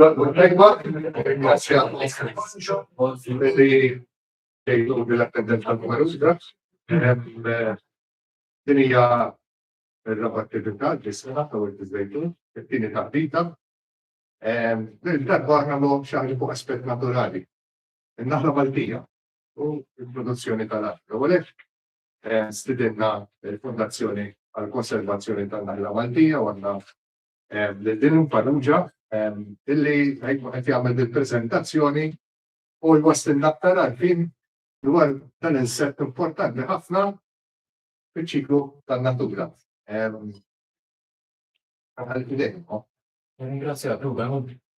Tajba, ringrazzja li jgħidu l-appendent tal-Kumarusga. Din hija r-raba' attività li sena ta' Wild Iżejtu, it-tieni taħdita. Din darba aħna nagħmlu xi fuq aspett naturali. In-naħla Maltija u l-produzzjoni tal-art. U għalhekk stidinna l-Fondazzjoni għall-Konservazzjoni tan-Naħla Maltija u għandna lil Dylan Farrugia illi ħajkun qed jagħmel dil-preżentazzjoni u jwasslilna aktar għarfien dwar dan l-insett importanti ħafna fiċ-ċiklu tan-natura. Għal-fidejkom. Ringrazzjak, Ruben.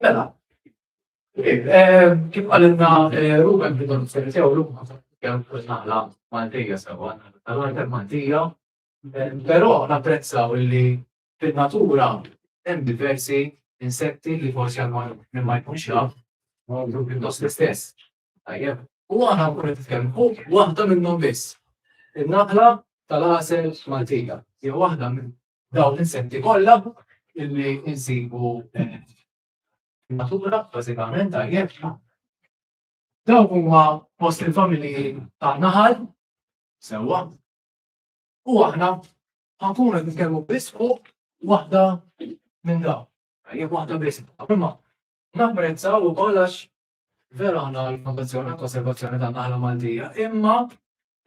Mela, eh, kif għalinna eh, Ruben bidon s-seritew l-umma kemm kull naħla Maltija sewa, naħla Maltija, eh, però napprezzaw li fin-natura hemm diversi insetti li forsi għal minn ma jkunx jaf, ma jkun pjuttost l-istess. Tajjeb, u għana nkun nitkellem fuq waħda minnhom biss. Il-naħla tal-għasel Maltija, jew waħda minn dawn l-insetti kollha illi insibu eh, natura bażikament tajjeb. Dawn huma fost il-familji tan-naħal sewwa. U aħna ħankun qed nitkellmu biss fuq waħda minn dawn. Jekk waħda biss. Imma napprezzaw ukoll għax Vera aħna għall-fondazzjoni għall-konservazzjoni tan-naħla Maltija, imma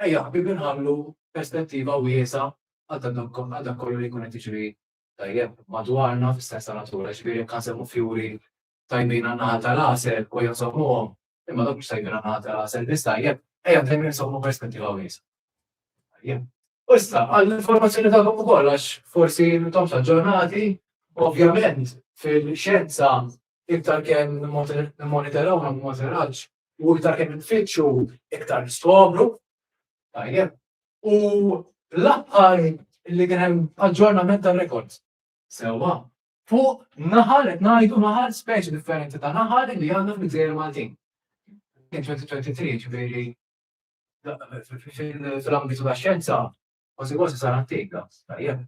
ejja ħbieb inħallu perspettiva wiesgħa għal dak kollu li jkun qed jiġri tajjeb madwarna fis-sens ta' natura, ġifieri jekk għanżemmu fjuri tajbin għan-naħal tal-għasel u ejja nżommuhom, imma dawk mhux tajbin għan-naħal tal-għasel biss tajjeb, ejja dejjem inżommu perspettiva wiesgħa. Tajjeb. U issa għall-informazzjoni tagħkom ukoll għax forsi intom xaġġornati, ovvjament fil-xjenza Iktar kemm nimmonitoraw u nagħmlu monitoraġġ u iktar kemm infittxu, iktar niskopru. Tajjeb. U l-aħħar li kien hemm aġġornament tar-rekords. Sewwa. Fuq naħal qed ngħidu naħal speċi differenti ta' naħal li għandna fil-Gżejjer Maltin. Kien 2023, ġifieri fil-ambitu tax-xjenza kważi kważi sar antik dan. Tajjeb.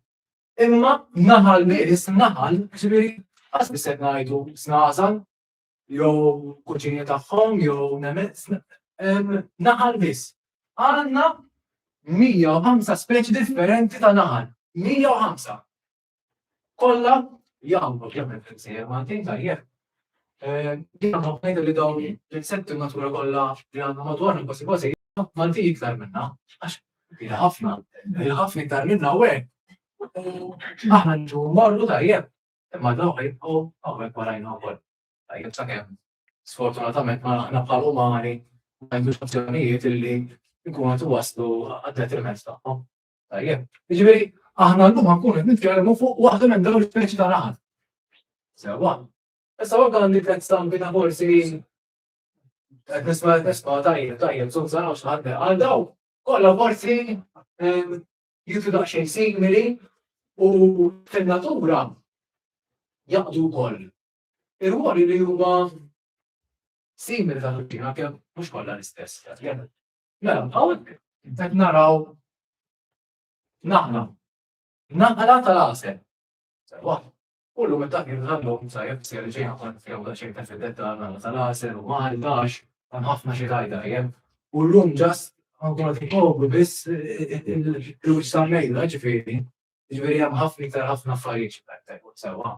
Imma naħal miris, naħal, ġifieri qas biss qed ngħidu snażal, jew kuċini tagħhom, jew nemmen, naħal biss. Għandna 105 speċi differenti ta' naħal. 105. Kollha jgħamlu kemm il-fimsejjer Maltin tajjeb, Jiena nħobb ngħid li dawn l-insetti u n-natura kollha li għandna madwarna kważi kważi hija Maltin iktar minnha għax hija ħafna, hija ħafna iktar minnha u hekk aħna niġu mmorru tajjeb imma dawk jibqgħu hawnhekk warajna wkoll. Tajjeb sakemm sfortunatament ma aħna bħal umani ma jindux azzjonijiet illi nkunu qed iwasslu għad-detriment tagħhom. Tajjeb. Jiġifieri aħna llum ħankunu qed nitkellmu fuq waħda minn dawn l-ispeċi ta' raħal. Sewwa. Issa waħda għandi tliet stampi ta' forsi qed nisma' qed nisma' tajjeb tajjeb żomm saraw x'ħadd għal daw. Kollha forsi ehm, jitu daqsxejn simili u fin-natura jaqdu wkoll. Ir-ruoli li huma simili ta' ħaddina kemm mhux kollha l-istess. Mela, hawnhekk qed naraw naħna naqra tal-għasel. Sewa, kullu meta kien ħallhom sa jekk se ġej ħafna fjew da xejn ta' fid-detta naqra tal-għasel u mal dax hemm ħafna xi tajda jem. U llum ġas għandhom qed ikobru biss il-flus tal-mejda ġifieri. Ġifieri hemm ħafna iktar ħafna affarijiet xi tajda sewa.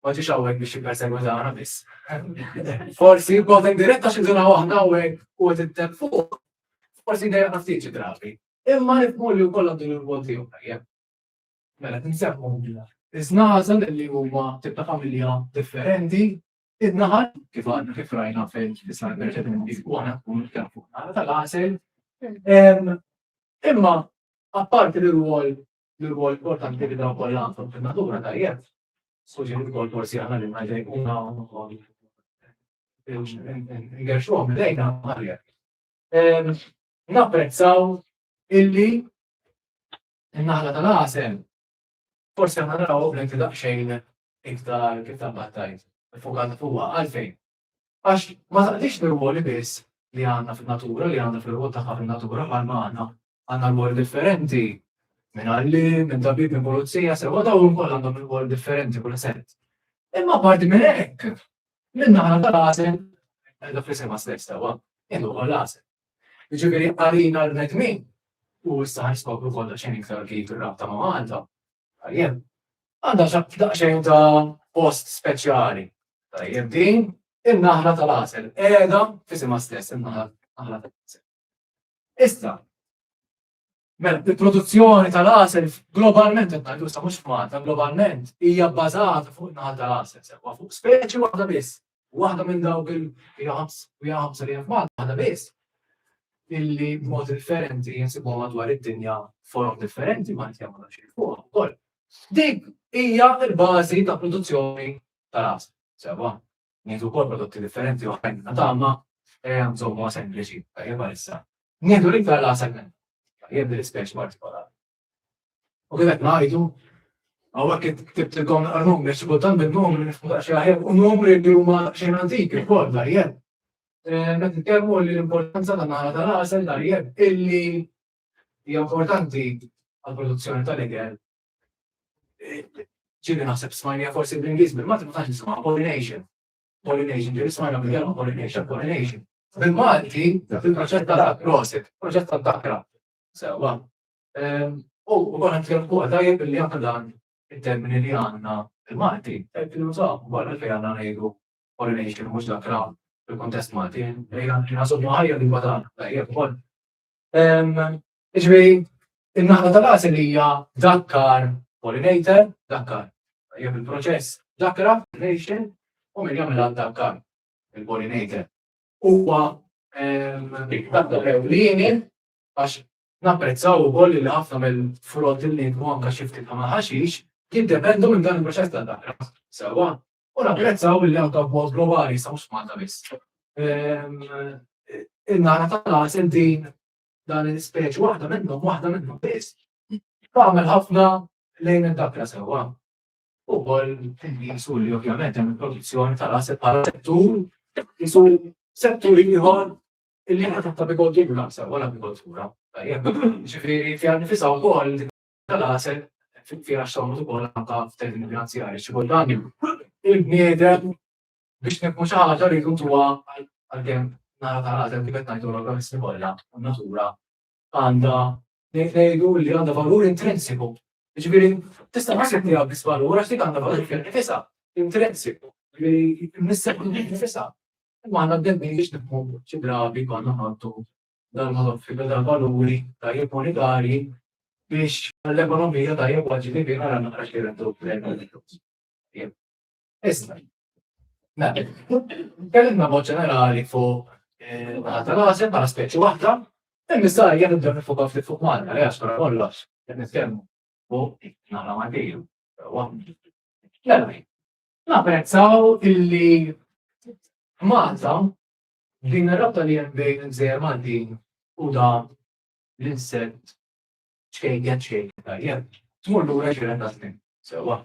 Ma ġiex hawnhekk biex jippersegwitana biss. Forsi b'mod indiretta xi duna waħda hawnhekk u qed itteb fuq, forsi dejjem ftit xi drabi. Imma nifhmu li wkoll għandu l-irwol tiegħu tajjeb. Mela tinsemmu iż-żnażel li huma tip ta' familja differenti, in-naħal kif għandna kif rajna fil-islam preċedenti u aħna nkunu kemm fuq tal-għasel. Imma apparti l-irwol L-irwol importanti li dawn kollha għandhom fin-natura tajjeb, suġġerit ukoll forsi aħna li ngħidlek kuna wkoll ngerxuhom lejna għalhekk. Ehm, napprezzaw illi n-naħla tal-għasem forsi aħna naraw bl-inti daqsxejn iktar kif tal-battajt, fukata fuqha għalfejn. Għax ma taqdix l-irwoli biss li għandna fin-natura, li għandha fir-rwol tagħha fin-natura bħalma għandna. Għandna rwoli differenti, minn għalliem, minn tabib, minn pulizija, sewwa dawn ukoll għandhom irwoli differenti kull sett. Imma apparti minn hekk, minn naħa tal-għasel, qiegħda fl-isema stess sewwa, jien ukoll għasel. Jiġifieri għalina l-bnedmin u issa ħaskopru kollha xejn iktar kif ir-rabta ma' Malta. Tajjeb. Għandha xi daqsxejn ta' post speċjali. Tajjeb din in-naħla tal-għasel qiegħda f'isimha stess in-naħla tal-għasel. Issa, Mela, il-produzzjoni tal-għasel globalment, għaddu sa mux f'Malta, globalment, hija bbażata fuq il-naħal tal-għasel, sewa fuq speċi waħda biss, Waħda minn dawk il-hija ħamsa li hemm f'Malta, waħda biss, illi b'mod differenti jinsibuha madwar id-dinja forom differenti Malti jagħmlu xi fuqha wkoll. Dik hija l-bażi ta' produzzjoni tal-għasel. Sewwa, nieħdu wkoll prodotti differenti oħrajn ta' tagħma nżommuha sempliċi, tajjeb għalissa. Nieħdu l-iktar l-għasel minn. Tajjeb din l-ispeċi partikolari. U kien qed ngħidu Għawak ktibt il-għon għarrum, biex kultan bil-għon, xaħem, u numri li huma xejn antik, il-kol, dar jeb. Met nitkellmu li l-importanza ta' naħra ta' rasel dar jeb, illi hija importanti għal-produzzjoni tal-ikel. Ġili naħseb smajnija forsi bl-Ingliż, bil-Malti ma tax nisimgħu pollination. Pollination, ġili smajna bil-kelma pollination, pollination. Bil-Malti, fil-proċett tal-prosit, proċett tal-dakra, Sewwa. U wkoll qed tkellem fuqha tajjeb li anke dan it-termini li għandna l-Malti qed nużaw ukoll għalfejn għandna ngħidu pollination mhux dak li hawn fil-kuntest Malti. Ejja nżommu ħajja l-lingwa tagħna tajjeb ukoll. Jiġifieri n-naħla tal-għasel hija dakkar pollinator, dakkar tajjeb il-proċess dakkra pollination u min jagħmilha dakkar il-pollinator. Huwa dakkar ewlieni Għax napprezzaw ukoll li ħafna mill-frott li ninkbu anke xi ftit bħal ħaxix jiddependu minn dan il-proċess ta' daqra. Sewwa. U napprezzaw li anke b'mod globali sa mhux f'Malta biss. In-nagħna tal-għasel din dan l-ispeċi waħda minnhom, waħda minnhom biss, tagħmel ħafna lejn id-daqra sewwa. Ukoll jisu li ovvjament hemm il-produzzjoni tal-għasel bħala settur, jisu settur ieħor Il-liema ta' Bigold jgħidu l-għasel wara Bigold Kura. Tajjeb. Ġifieri fiha nnifisha wkoll dik tal-għasel fiha x'sawwret ukoll anke f'termini finanzjarji xi kultant il-bniedem biex nibnu xi ħaġa rridu ntuha għalkemm nara tal-għasel kif qed ngħidu l-organiżmi kollha u n-natura għandha ngħidu li għandha valur intrinsiku. Ġifieri tista' ma ssib tiegħek biss valur għax dik għandha valur fil nifisha intrinsiku. Ġifieri nisseb nifisha. Imma għandna d-demmi biex nibqgħu xi drabi konna ħaddu dal-valuri tajjeb monetarji biex l-ekonomija tajjeb għal ġifieri nara naqra xi rendu Iżda, kellimna mod ġenerali fuq eh, naħa tal-għażel bħala speċi waħda, hemm issa jien nibdew nifoka ftit fuq Malta, għax wara kollox qed nitkellmu fuq naħla Maltiju. Mela, napprezzaw illi Malta din ir-rabta li hemm bejn il-gżejjer Maltin u da l-insett ċkejja ċkejja tajjeb. Tmur lura ġiren ta' snin. Sewa.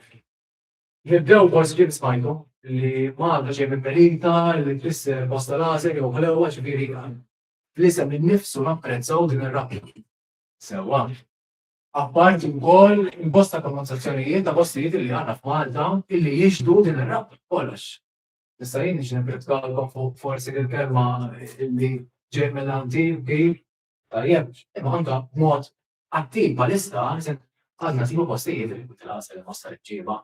Nibdew b'voice clip smajtu, li ma għandha xejn minn Melita, li tfisser bosta laser jew ħlewwa, ġifieri għan. Fl-isem innifsu napprezzaw din ir-rabta. Sewwa. Apparti wkoll il-bosta pronunzazzjonijiet ta' postijiet illi għandna f'Malta illi jixhdu din ir-rabta b'kollox. Issa jien nixtieq nipprietkawlkom fuq forsi l-kelma illi ġej minn għandi, bi, Tajjeb, imma anke b'mod attiv bħalissa għadna nsibu postijiet li jkun il-għasel inħossha l-imġiba.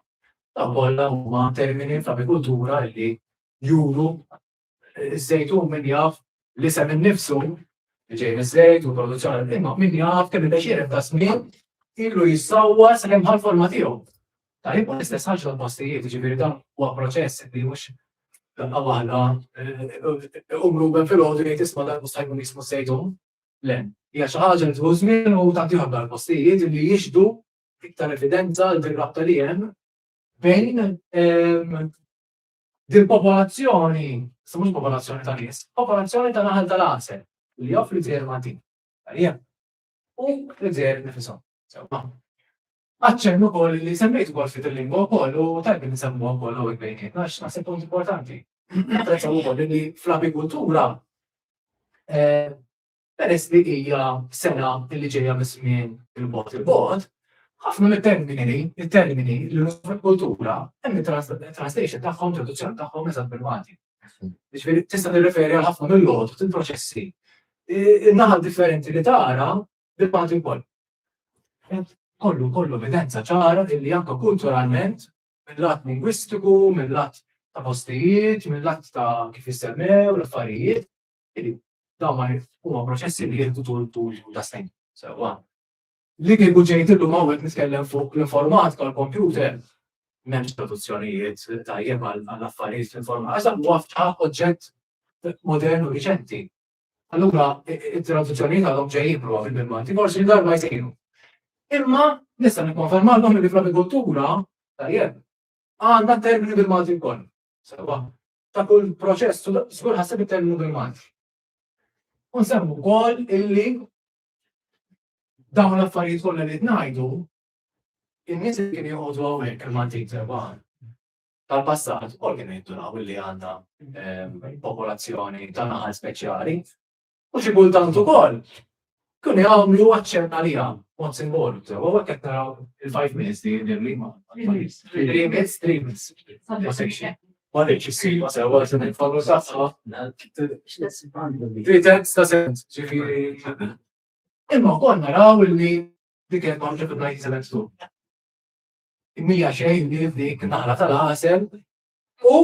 Dawn kollha huma termini fl-agrikultura li juru ż-żejtun min jaf l-isem innifsu li ġej miż-żejt u l-produzzjoni imma min jaf kemm il-bexxier ta' żmien ilu jissawwa sakemm ħa l-forma tiegħu. Tajjeb u l-istess ħaġa tal-postijiet, jiġifieri dan huwa proċess li mhux daqqa waħda iqum Ruben filgħodu jgħid isma' dan mhux se jkun jismu żejtun. Le, hija xi ħaġa li tieħu żmien u tagħti ħabba għall-postijiet li jixhdu iktar evidenza għal din rabta li hemm bejn din popolazzjoni, sa mhux popolazzjoni ta' nies, popolazzjoni ta' naħal tal-għasel li joffri żejr Maltin. Tajjeb. U l-żejr nifisom. Sewwa. Aċċenn ukoll li semmejt ukoll ftit il-lingwa wkoll u tajjeb li nsemmuha wkoll hawnhekk bejnietna għax naħseb punt importanti. Napprezzaw ukoll li fl-apikultura peress li hija sena li ġejja miż-żmien il-bogħod il-bogħod, ħafna mit-termini, it-termini li nużaw fl-apikultura hemm it-translation tagħhom, traduzzjoni tagħhom eżatt bil-Malti. Jiġifieri tista' tirreferi għal ħafna mill-logħob, il-proċessi, in-naħa differenti li tara Il-paġi wkoll. Kollu, kollu evidenza ċara illi anke kulturalment, mill-lat lingwistiku, mill-lat ta' postijiet, mill-lat ta' kif jissemmew l-affarijiet, illi dawn ma huma proċessi li jieħdu tul tul ta' snin. Sewwa. Li kieku ġejt illum hawnhekk nitkellem fuq l-informatika u l-kompjuter, m'hemmx traduzzjonijiet tajjeb għall-affarijiet fl-informatika, għax dan huwa f'ħafna oġġett modern u riċenti. Allura, it-traduzzjonijiet għadhom ġejjin prova fil-Bilmanti, forsi darba jsejru. Imma nista' nikkonfermalhom li fl-agrikoltura tajjeb għandna termini bil-Malti wkoll. Sewa, ta' kull proċess żgur ħasseb it-terminu bil-Malti. U nsemmu wkoll illi dawn l-affarijiet kollha li tnajdu in-nies li kien joqogħdu hawnhekk il-Maltin sewa tal-passat u kienu jindunaw li għandna popolazzjoni ta' naħal speċjali u xi kultant ukoll kienu jagħmlu aċċenn għaliha mod simbolu sew u hekk qed naraw il-five minutes li jidher li ma three minutes, three minutes. Ma sejx. Ma rridx issir ma sew għal se nitfallu sassa. Three tenths ta' sent, ġifieri. Imma wkoll naraw li dik il-kontra fil-1972. Mija xejn li dik naħla tal-għasel u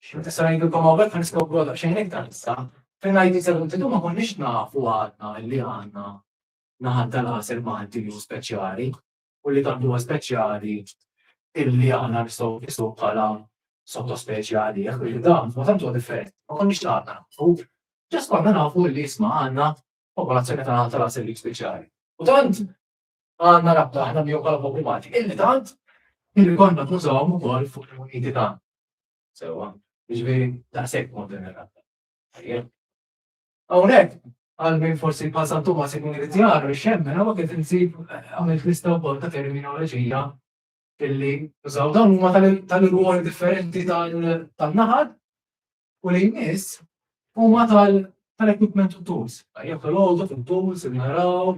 xi meta sar jgħidilkom hawnhekk ħa niskop għodha xejn iktar issa. Fejn ngħid isellu tidu ma konniex nafu għadna li għandna naħal tal-għasel Malti li speċjali u li tant huwa speċjali illi għandna nistgħu nisu bħala sottospeċi għalih u dan ma tant huwa differenti. Ma konniex għadna. U ġas konna nafu li jisma' għandna popolazzjoni tal-għasel li speċjali. U tant għandna rabta aħna miegħu bħala poplu Malti. Illi tant illi konna nużawhom ukoll fuq il-muniti ta' sewwa, jiġifieri daqshekk mod din ir-rabta. Hawnhekk għal min forsi bħal San Tumas ikun irid jagħru xemmen hawn qed insib għamilt lista wkoll ta' terminoloġija illi użaw dawn huma tal-irwoli differenti tal-naħad u li jmiss huma tal-equipment u tools. Jekk l-għodu fil-tools, il-naraw,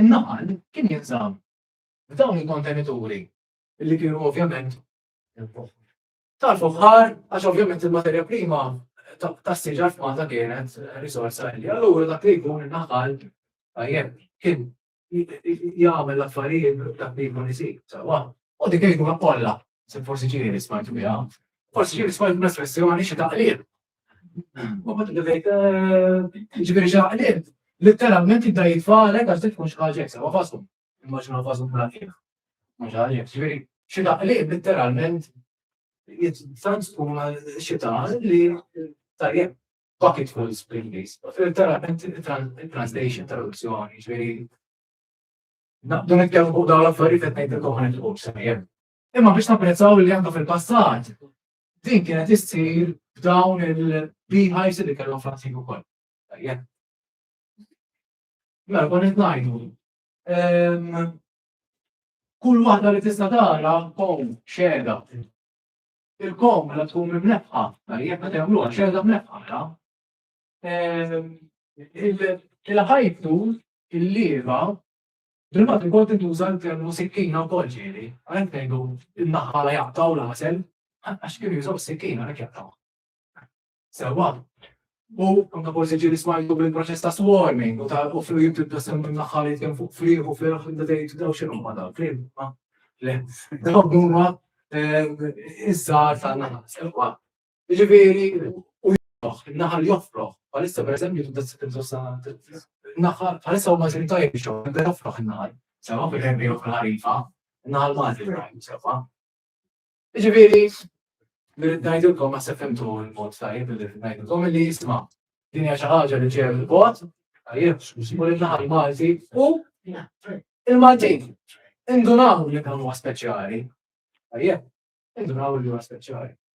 In-nagħal kien jinżamm f'dawn il-kontenituri li kienu ovvjament tal-fuħħar għax ovvjament il-materja prima tas-siġar f'Malta kienet riżorsa għelja. Allura dak li jkun in-nagħal tajjeb kien jagħmel l-affarijiet dak li jkun isir sewwa. U dik il-ġimgħa kollha Se forsi ġiri li smajtu biha, forsi ġiri smajtu l-espressjoni xi taqlib. U bat għidejt, eh, ġibiri xi taqlib. Literalment jibda jitfalek għax tkun xi ħaġa jeksa, ma fasum. Immaġna fasum bla kif. Mhux ħaġa ġibiri xi taqlib literalment tant tkun xi taqlib li tajjeb bucket full spring base. Literalment translation, traduzzjoni, ġibiri Naqdu nitkellmu fuq dawn l-affarijiet qed ngħidilkom ħanet il-qum sejjer. Imma biex napprezzaw li għandna fil-passat, din kienet issir b'dawn il-beehives li kellhom fl-antik ukoll. Mela kon qed ngħidu. Ehm, kull waħda li tista' tara kom xeda. Il-kom la mela tkun mimnefqa, tajjeb meta jagħmluha xeda mnefqa, Il-ħajtu, il-lieva, bil-mat ikun tintuża l-termu sikkina u kolġieri, għalhekk ngħidu n-naħħa la jaqtaw l-għasel, għax kienu jużaw sikkina għalhekk jaqtaw. Sewa, u anka forsi ġiri smajtu bil-proċess ta' swarming u ta' u fil-jum tibda semmu n-naħħa li tkun fuq friħ u friħ da dejt daw xinu ma daw friħ ma le daw huma iż-żar ta' naħa sewa. Jiġifieri u joffroh, in-naħal joffroh. Bħalissa pereżempju tibda ssib insosta naħal, bħalissa huma mexjin tajjeb bix-xogħol, jibda joffroh in-naħal. Sewwa fil ħin li joffri ħarifa, in-naħal Malti Ibrahim sewwa. Jiġifieri nirrid ngħidilkom naħseb fimtu l-mod tajjeb li rrid ngħidilkom li jisma' din hija xi ħaġa li ġejja mill-bot, tajjeb, u l-naħal Malti u il-Maltin. Indunaw li dan huwa speċjali. Tajjeb, indunaw li huwa speċjali.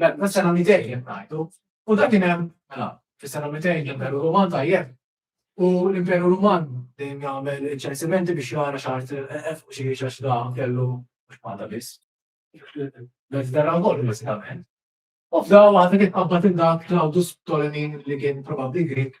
Le, ma sena 200 qed ngħidu, u dak kien hemm mela fis-sena 200 l-Imperu Ruman tajjeb u l-Imperu Ruman dejjem jagħmel ċensimenti biex jara x'art qef u xi għax da kellu mhux Malta biss. Mediterran kollu bażikament. U f'daw waħda kien qabad il-dak Claudius Ptolemy li kien probabbli Grik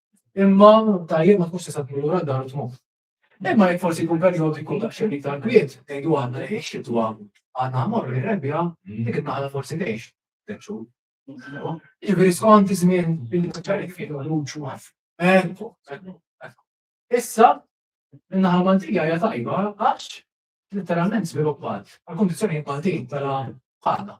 Imma tajjeb ma tkunx tista' tmur lura d-dar tmur. Imma jekk forsi jkun perjodu jkun daqsxejn iktar kwiet, ngħidu għandna li x-xitwa għandna mmorru li rebbija, dik in-naħla forsi tgħix tliet xhur. Jiġifieri skont iż-żmien il-ċarik fih ħruġ u għaf. Ekku, ekku, ekku. Issa, in-naħa Maltija hija tajba għax letteralment żviluppat għal kundizzjonijiet Maltin mela ħana.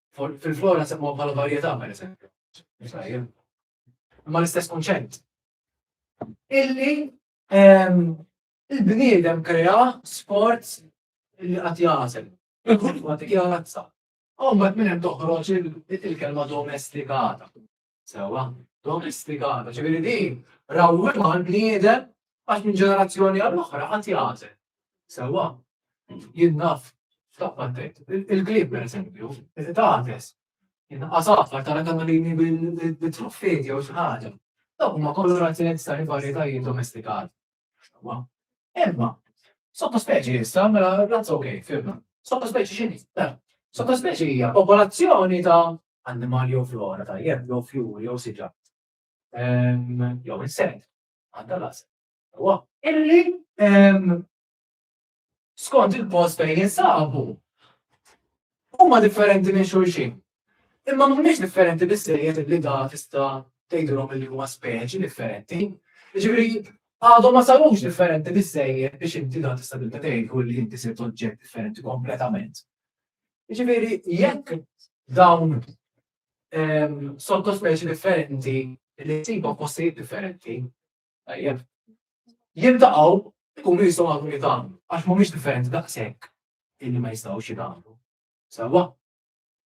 Fil-flora semmuha bħala varjetà pereżempju. Imma l-istess kunċett. Illi ehm, il-bniedem krea sport li qatt jażel. Il-kultura dik hija razza. Hawn minn hemm toħroġ il-kelma domestikata. Sewa, domestikata, ġifieri din rawwimha l-bniedem għax minn ġenerazzjoni għal oħra għad jagħżel. Sewa, jien naf f'taqqa tgħid, il-klib pereżempju, qed tagħtes. Jien qasafar tara kamalini bil-truffeti jew xi ħaġa. Dawk huma kolorazzjonijiet ta' varjetajiet domestikati. Sewa. Imma, sottospeċi issa, mela razz ok, firma. Sottospeċi x'inhi? Sottospeċi hija popolazzjoni ta' annimali jew flora ta' jebk jew fjuri jew siġar jew insett għandha l-għażel tagħha illi skont il-post fejn jinsabu huma differenti minn xulxin. Imma mhumiex differenti bissejjed li da tista' tgħidilhom li huma speċi differenti. Ġifieri għadhom ma sarux differenti bissejjed biex inti da tista' tibda tgħidlu li inti sirt oġġett differenti kompletament. Jiġifieri jekk dawn ehm, sottospeċi differenti li jsibu postijiet differenti, tajjeb, jiltaqgħu ikunu jistgħu għadu jitgħamlu, għax mhumiex differenti daqshekk illi ma jistgħux jitgħamlu. Sawa,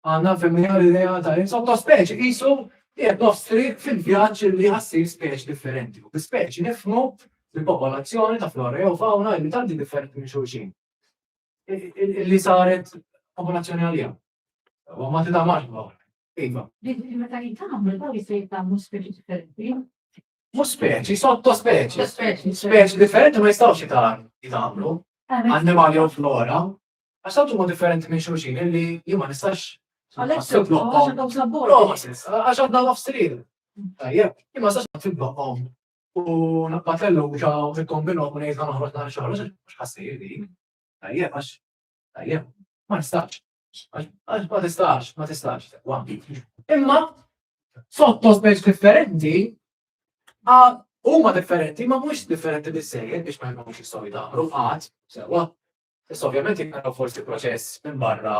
għandna femmija l-idea ta' sottospeċi qisu jgħed nostri fil-vjaġġ li ħassir speċi differenti. U speċi nifmu fil-popolazzjoni ta' flora jew fauna li tanti differenti minn xulxin. li saret popolazzjoni għalija. U ma tida marba. Iva. Meta jitamu, daw jisir jitamu speċi differenti. Mu speċi, sotto speċi. Speċi differenti ma jistawx jitamlu. Animali u flora. Għax ma differenti minn xulxin li jima nistax. Għalek, għax għadna għafstrin. Tajjeb, jima nistax nifbaqom. U l-appatellu ġa tikkombinu għakun jgħid għan uħroġ naħar xaħar, għax ħassir din. Tajjeb, għax, tajjeb, ma nistax. Għax ma tistax, ma tistax. Imma, sotto speċ differenti, huma differenti, ma mhux differenti bizzejed biex ma jkunx jistgħu jdaħru qatt, sewa. Issa ovvjament jkunu forsi proċess minn barra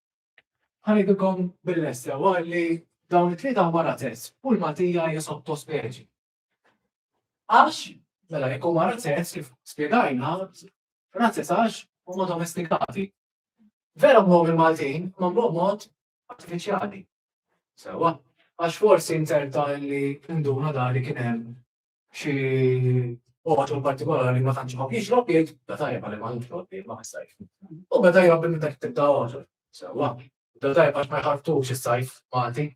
Ngħidilkom bil-lest sewwa li dawn it-tlieta huma razez u l-maltija hija sottospeċi. Għax, mela jekk huma razez kif spjegajna, razez għax huma domestikati. Vera mhom il-Maltin mamluhom mod artifiċjali. Sewwa, għax forsi nzerta li nduna dari kien hemm Xi oħra partikolari ma tantx ma kienx logħbiet, da tajjeb għalli ma kienx logħbiet ma ħsajx. U beda jgħabbi minn dak tibda oħra. Sewwa, da tajjeb għax ma jħartux is-sajf Malti.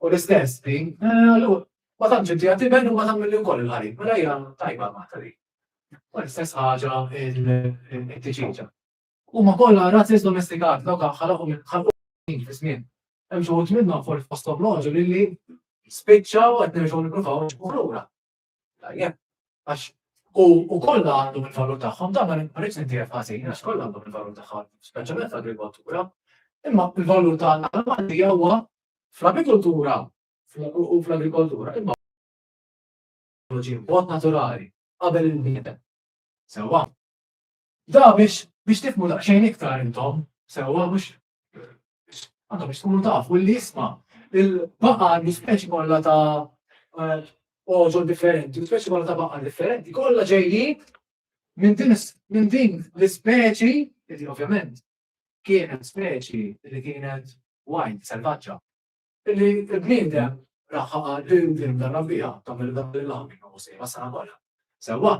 U l-istess din, eh, ma tantx inti għati ben u ma tagħmel li wkoll il-ħarim, mela hija tajba ma tali. U l-istess ħaġa il-tiġiġa. Huma kollha razziż domestikat, dawk ħalqu minn ħalqu minn fi żmien. Hemm xi wħud minnhom forsi fosthom l-għoġoli li spiċċaw qed nerġgħu nippruvaw nġibuh lura. Tajjeb, għax u u kollha għandhom il-valur tagħhom, dan ma rridx nittiegħek ħażin għax kollha għandhom il-valur tagħhom, speċjalment fl-agrikoltura. Imma il-valur tagħna l-Malti huwa fl-agrikoltura u fl-agrikoltura imma mod naturali qabel il-bniedem. Sewwa. Da biex biex tifhmu daqsxejn iktar intom sewwa mhux għandhom biex tkunu taf u li jisma' il-baqa' għandu speċi kollha ta' oġol differenti, speċi kollha ta' baqa' differenti, kollha ġejjin minn din minn din l-ispeċi, li ovvjament kienet speċi li kienet wild, selvaġġa, li l-bniedem raħħa għal din din darba biha tagħmel dan il-lamina u sejba sena kollha. Sewwa,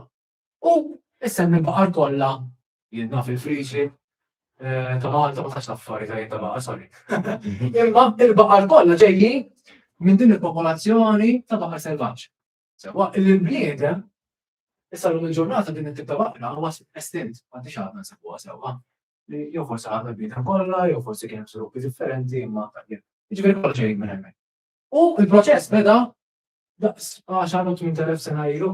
U issa minn baqar kollha jien naf il-friġi eh, ta' Malta ma tax taffari ta' ta' baqar, sorry. Imma il-baqar kollha ġejji minn din il-popolazzjoni ta' baqar selvaġġ. Sewa il-bniedem issa l il-ġurnata din it-tip ta' baqra huwa estint, m'għandix għadna nsabuha sewwa. Jew forsi għadna bniedem kollha, jew forsi kien srupi differenti imma jiġifieri kollha ġejjin minn hemmhekk. U il-proċess beda daqs 10 minn telef sena ilu.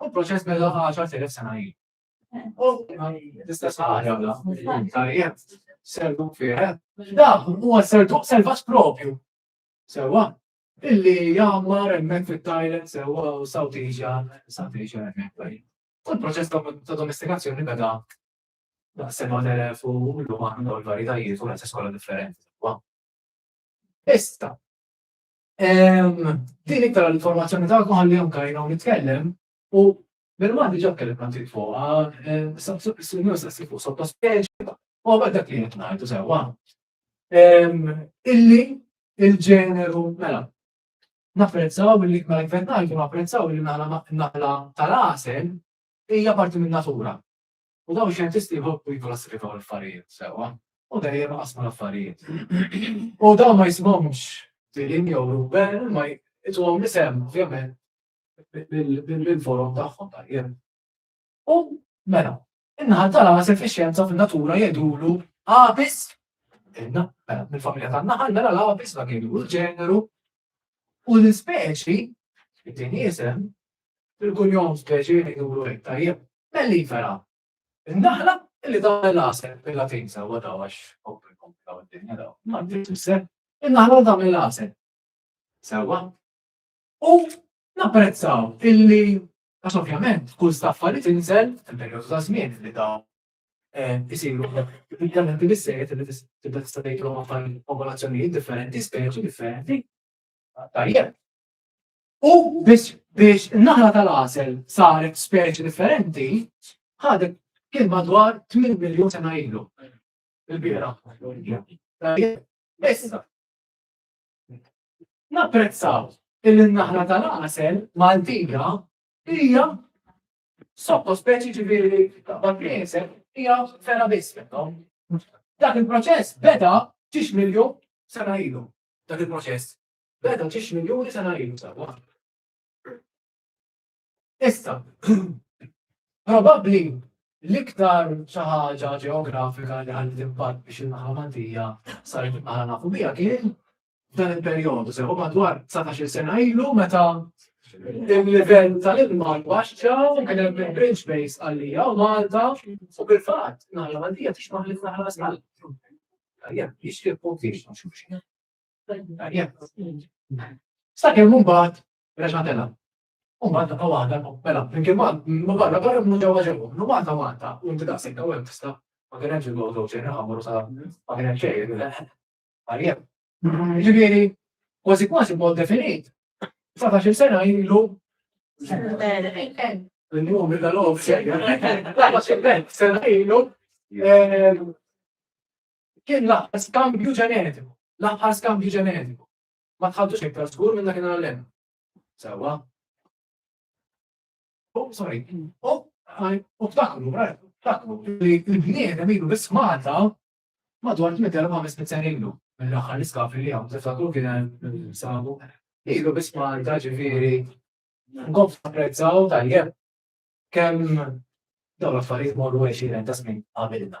U l-proċess beda 10,000 sena ilu. U l-istess ħaġa bla, tajjeb, serdu fih. Dak huwa serdu selvaġġ propju. Sewa, illi jammar hemmhekk fit-Thailand sewa u South Asia, South Asia hemmhekk tajjeb. U l-proċess ta' domestikazzjoni beda daqs 7,000 u llum aħna dawn il-varjetajiet u l-istess kollha differenti. Issa, Din iktar l-informazzjoni ta' għalli jom kajna u nitkellem u bil-ma diġa kellem għanti fuqa, s-sunju s-sassi fuq sotto speċi, u għabad dak li jitnajtu sewa. Illi il-ġeneru, mela, napprezzaw li ma jfetnajtu napprezzaw li naħla tal-asel hija parti minn natura. U dawn ix-xjentisti jħobbu jikklasifikaw l-affarijiet sewwa u dejjem iqassmu l-affarijiet. U dawn ma jismhomx Dylan jew Ruben, ma jituhom l-isem ovvjament bil-forom tagħhom tajjeb. U mela, in-naħa tal-għasel fix-xjenza fin-natura jgħidulu għabis, inna, mela, mill-familja tan-naħal, mela l-għabis ma kienu l-ġeneru u l-ispeċi, id-din jisem, Bil-kunjom speċi li jiduru hekk tajjeb, Mellifera! In-naħla li tagħmel l-għasel, bil-Latin sewwa daw għax kompli jkomplikaw id-dinja daw, imma dik tfisser in-naħla li tagħmel l-għasel. Sewwa. U napprezzaw illi għax ovvjament kull staffa li tinżel fil-perjodu ta' żmien li daw eh, isiru dan inti bissejjed li tibda tista' tgħidlu ma' popolazzjonijiet differenti, speċi differenti. Tajjeb. U biex biex naħla tal-għasel saret speċi differenti, ħadet kien madwar 8 miljon sena ilu. Il-bira. Issa. Napprezzaw il-naħla tal-għasel Maltija hija sotto speċi ġiviri taqbad priesel hija fera biss minnhom. Dak il-proċess beda 6 miljon sena ilu. Dak il-proċess. Beda ġiex miljuni sena ilu sewwa. Issa, probabbli l-iktar xi ħaġa ġeografika li ħalli impatt biex il-naħa Maltija saret naħa nafu biha kien dan il-perjodu sew madwar 19 sena ilu meta il-livell tal-ilma baxxa kien hemm il-bridge base għalija u Malta u bil-fatt naħla Maltija tixbaħ li naħla sal. Jixtieq punti Sakemm mbagħad reġa' tela'. U Malta ta' waħda, mela, flimkien ma' barra barra minn ġewwa ġewwa, minn Malta Malta, u inti daqshekk ta' hemm tista' ma kien hemmx il-gold ocean ħammur sa ma kien hemm xejn. Għaljem. Ġifieri, kważi kważi mod definit, 19 sena ilu L-njum il-dalom xejn. Laħma xejn, sena ilu Kien l-aħħar skambju ġenetiku. L-aħħar skambju ġenetiku. Ma tħaddux iktar żgur minn dakinhar l-hemm. Sewwa. Oh, sorry. Oh, u ftakru, ftakru, il-bniedem ilu biss Malta madwar 8,500 sena ilu. Mill-aħħar l-iskafri li għam, tiftakru kien hemm sabu. Ilu biss Malta ġifieri. Nkomplu napprezzaw tajjeb kemm dawn l-affarijiet morru 20 ta' snin qabilna.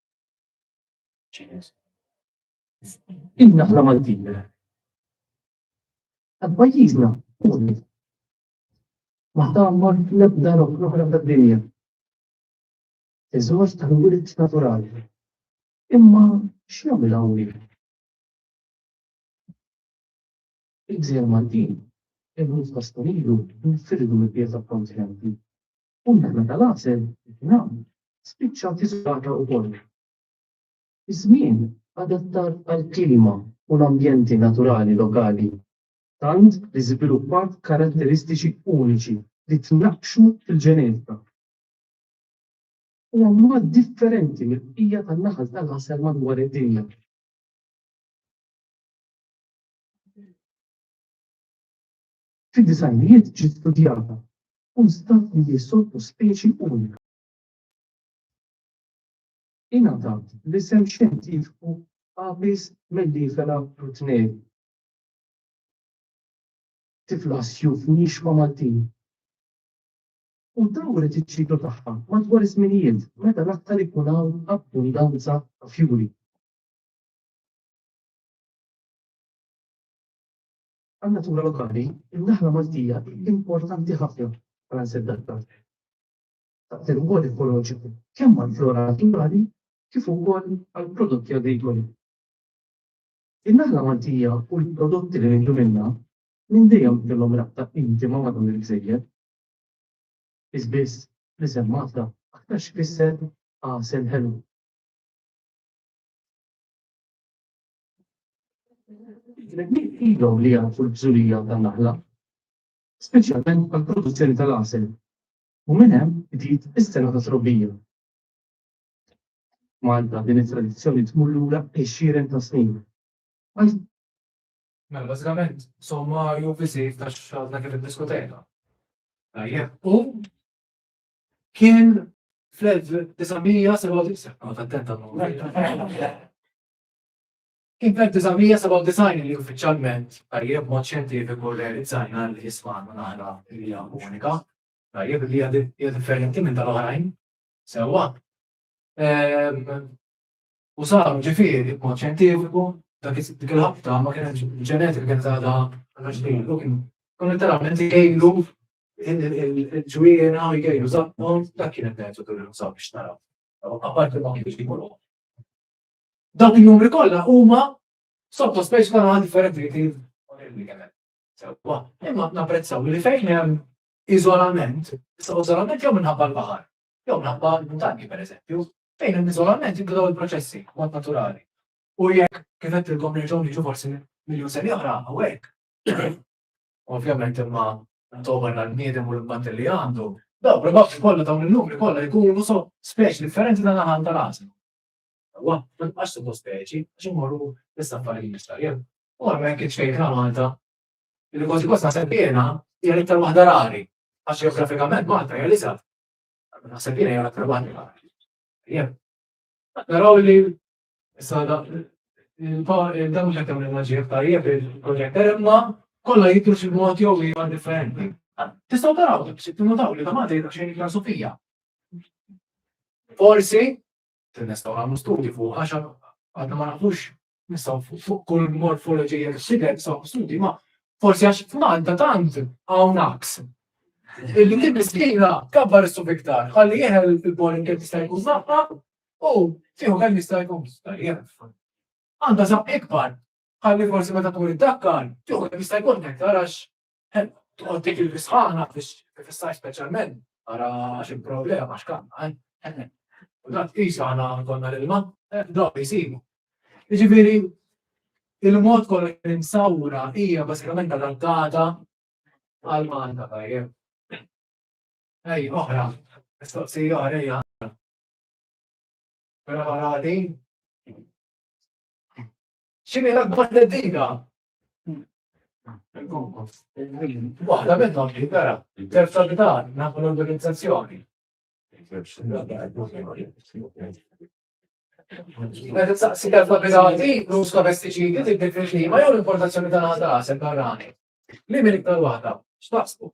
Inna ħna Maltin. Għad pajjiżna, kuni. Maħta għammar l-ebda l-oħra d-dinja. Iżżoġ ta' wirt naturali. Imma x'jagħmel hawnhekk? Il-gżejjer Maltin, il-ħut ta' Stonilu, nfirdu mill-pieta kontinenti. Kundanna tal-għasel, it-tnam, spiċċat iżolata ukoll. Iż-żmien adattat għall-klima u l-ambjenti naturali lokali, tant li żviluppat karatteristiċi uniċi li tnaqqxu fil-ġenetika. Huwa mod differenti mill-bqija tan-naħal tal-għasel madwar id-dinja. Fid-disgħinijiet ġiet studjata u nstab li hi sottospeċi unika. Ingħatat l-isem xjentifiku Apis mellifera rutneri. Tifla għas-sjuf nixfa Maltin. U dawret iċ-ċiklu tagħha madwar iż-żminijiet meta l-aktar ikun hawn abbundanza ta' fjuri. Għan-natura lokali, in-naħla Maltija hi importanti ħafna bħala nseddanttant. Taqdi rwol ekoloġiku kemm għall-flora naturali kif ukoll għall-prodotti agrikoli. In-naħla Maltija u l-prodotti li nieħdu minnha minn dejjem kellhom rabta intima ma' dawn il-gżejjer. Qies biss l-isem Malta aktar x'ifisser għasel ħelu. Il-bnedmin ilhom li jafu l-bżulija tan-naħla, speċjalment għall-produzzjoni tal-għasel, u minn hemm bdiet is-sena tat-trobbija. F'Malta din it-tradizzjoni tmur lura għexieren ta' snin. Mela bażikament sommarju qisir ta' x'għadna kif iddiskutejna. Tajjeb. U kien fl-1997, noqgħod attent għall-numri. Kien fl-1997 li uffiċjalment, tajjeb, b'mod xjentifiku rrealizzajna li Isma' għandu naħra li hija unika, tajjeb, li hija differenti minn tal-oħrajn, sewwa, u saru, ġifieri, b'mod xjentifiku, dak dik il-ħabta ma kienet il-ġenetika kienet għadha għandha x'tgħid, u kien kien letteralment igejlu il-ġwiena u jgejlu żaqqhom, dak kien il-metodu li nużaw biex naraw. Apparti ma kienx ikunu. Dawk in-numri kollha huma sottospejs kollha differenti li sewwa. Imma napprezzaw li fejn hemm iżolament, issa iżolament jew minħabba l-baħar, jew minħabba l-muntanji pereżempju, fejn hemm iżolament jibdew il-proċessi mod naturali. U jekk kif għedtilkom nerġgħu niġu forsi miljun sena oħra hawnhekk. Ovvjament imma togħmel għall-bniedem u l-impatt li għandu, dawn probabbli kollha dawn in-numri kollha jkunu sottospejs differenti tal-għan tal-għażel. Wa, ma tibqax tibqa' speċi, għax immorru fis-safari mill-istajer. U hemmhekk kien xejn ta' Malta. Li kważi kważi naħseb jiena hija l-iktar waħda rari, għax ġeografikament Malta hija l-iżgħar. Naħseb jiena hija l-aktar waħda rari. Jien. Naraw li issa da- il-pa- il- dan mhux qed jagħmel maġija aktar jekk il-proġett imma kollha jidhru xi mod jew ieħor differenti. Tistgħu taraw, tinnotaw li ta' Malta jidher xejn iktar Sofija. Forsi Se nistgħu nagħmlu studji fuq għax għadna ma nafux nistgħu fuq kull morfoloġija x'idher nistgħu studji ma forsi għax f'Malta tant hawn aks. Illi din miskina kabbar issu fiktar, ħalli jeħel il-pollen kif jista' jkun żaqqa u fieħu kemm jista' jkun Għandha żaqq ikbar, ħalli forsi meta tmur id-dakkar, fieħu kemm jista' jkun iktar għax Hemm, toqgħod dik il-bisħana biex tifissar speċjalment ara xi problema x'kanna, eh? U dan tqisu aħna konna l-ilma, eh, dawk li jsibu. Jiġifieri il-mod kollha kien insawra hija bażikament adattata għal Malta tajjeb. Ej, oħra, mistoqsija oħra hija. Mela ħarati. X'inhi l-akbar teddida Waħda minnhom li vera, terza b'dan nafu l-organizzazzjoni. Meta saqsi kelma bidati, l-uż ta' pestiċidi tibdil fil-klima jew l-importazzjoni tal-għadasel barrani. Li minn iktar waħda, x'taqsbu?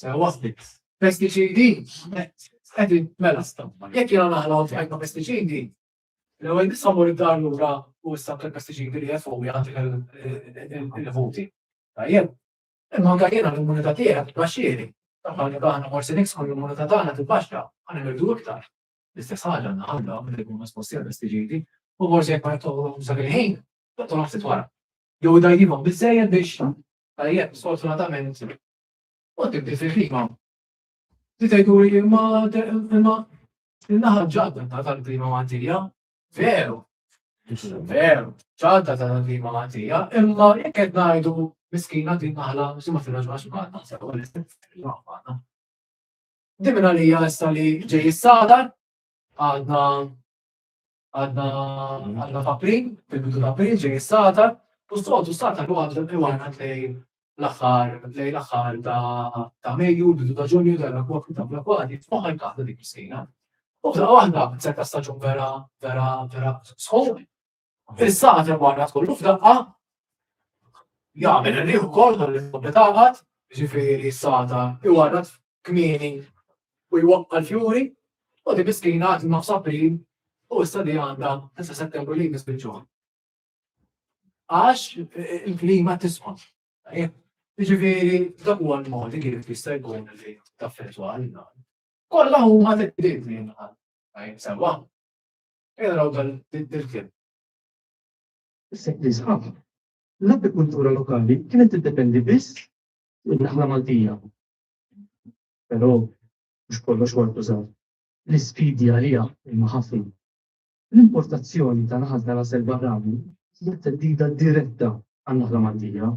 Sew waħdi. Pestiċidi, qed mela stampa. Jekk jiena naħla u tħajna pestiċidi, l-ewwel nisabu li dar lura u issa pestiċidi li jafu jagħti il-ħuti. Tajjeb. Imma anke jiena l-immunità tiegħek tbaxxieri. Taħna li aħna forsi niksħu l-immunità tagħna tibbaxxa, għana nirdu iktar. L-istess ħaġa naħamla minn ikun nasposti għal pestiċidi u forsi jekk ma jitolhom dak il-ħin, tagħtolhom ftit wara. Jew dajjibhom biżejjed biex tajjeb sfortunatament Kont ibdiet il-klima. Bdiet jgħidu li imma imma in-naħa ġadda ta' tal-klima Maltija, veru, veru, ġadda ta' tal-klima Maltija, imma jekk qed ngħidu miskina din naħla xi ma tirraġunax magħna, sew għal Dimina li jgħasta li ġej is-sadar, għadna Għadna għadna f'April, fil-bidu ta' April ġej s-sata, u s-soltu s-sata li għadna iwana lejn l-aħħar lejn l-aħħar ta' Mejju, bidu ta' Ġunju dan l-akwad ta' l-akwad jitmoħħa jkaħda dik is-sejna. U f'daqqa waħda se ta' staġun vera vera vera sħob. Fis-sata li għadna tkollu f'daqqa jagħmel rieħu kol dan li tkompli taħat, ġifieri s-sata iwana kmieni u jwaqqa' l-fjuri u din miskina qed ilha f'April u issa li għandha sa Settembru li jmiss biċ-ċuħ. Għax il-klima tisqof. Jiġifieri dak huwa l-mod kif jista' jkun li taffettwa għalina. Kollha huma teddidiet li jinqal. Sewwa. Ejja naraw dan il-kien. Issa nisħaq. L-agrikultura lokali kienet tiddependi biss fuq in-naħla Maltija. Però mhux kollox huwa ntużaw. L-isfidi għaliha huma ħafna. L-importazzjoni ta' naħal ta' Ras el-Barrani hija theddida diretta għan-naħla Maltija.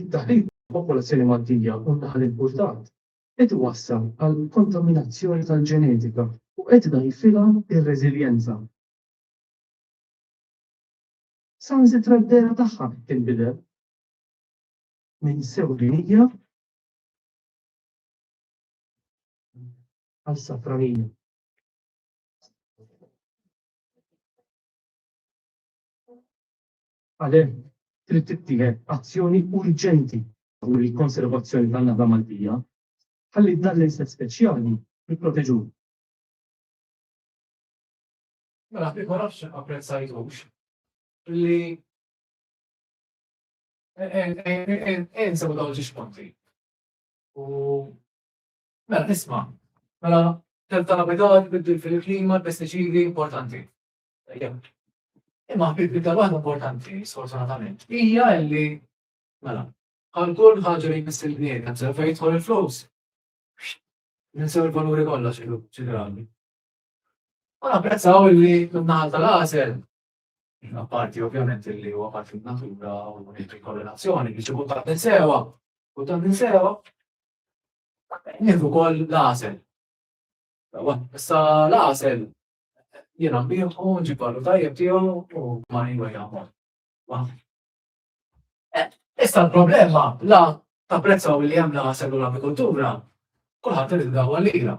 It-taħrib tal-popolazzjoni Maltija u n-naħal impurtat qed iwassal għal kontaminazzjoni tal-ġenetika u qed idgħajfilha r-reżiljenza. Saħansitra d-dehra tagħha qed tinbidel. ninsew dinija għal safranija. Għalhekk trid tittieħed azzjoni urġenti u l-konservazzjoni tan-nada Maltija ħalli dan l-inset speċjali jipproteġu. Mela, ma nafx apprezzajtux li Insa u dawġi xponti. U mela nisma, mela tel tal-abitat biddu fil-klima, pesticidi importanti. Imma biddu tal-waħda importanti, sfortunatament, hija li mela għal kull ħaġa li jmiss il-bniedem se fejn jidħol il-flus. Ninsew il-valuri kollha xi drabi. U napprezzaw li minnaħal tal-għażel Apparti ovvjament li huwa parti natura u nieħdu korrelazzjoni biex ikun ta' ninsewa u ta' ninsewa nieħdu wkoll l-għasel. Issa l-għasel jiena nbieħu nġib vallu tajjeb tiegħu u ma nilwa jagħmel. Eh, issa l-problema la ta' prezza u li hemm l-għasel u l-agrikoltura kulħadd irid dawwa lira.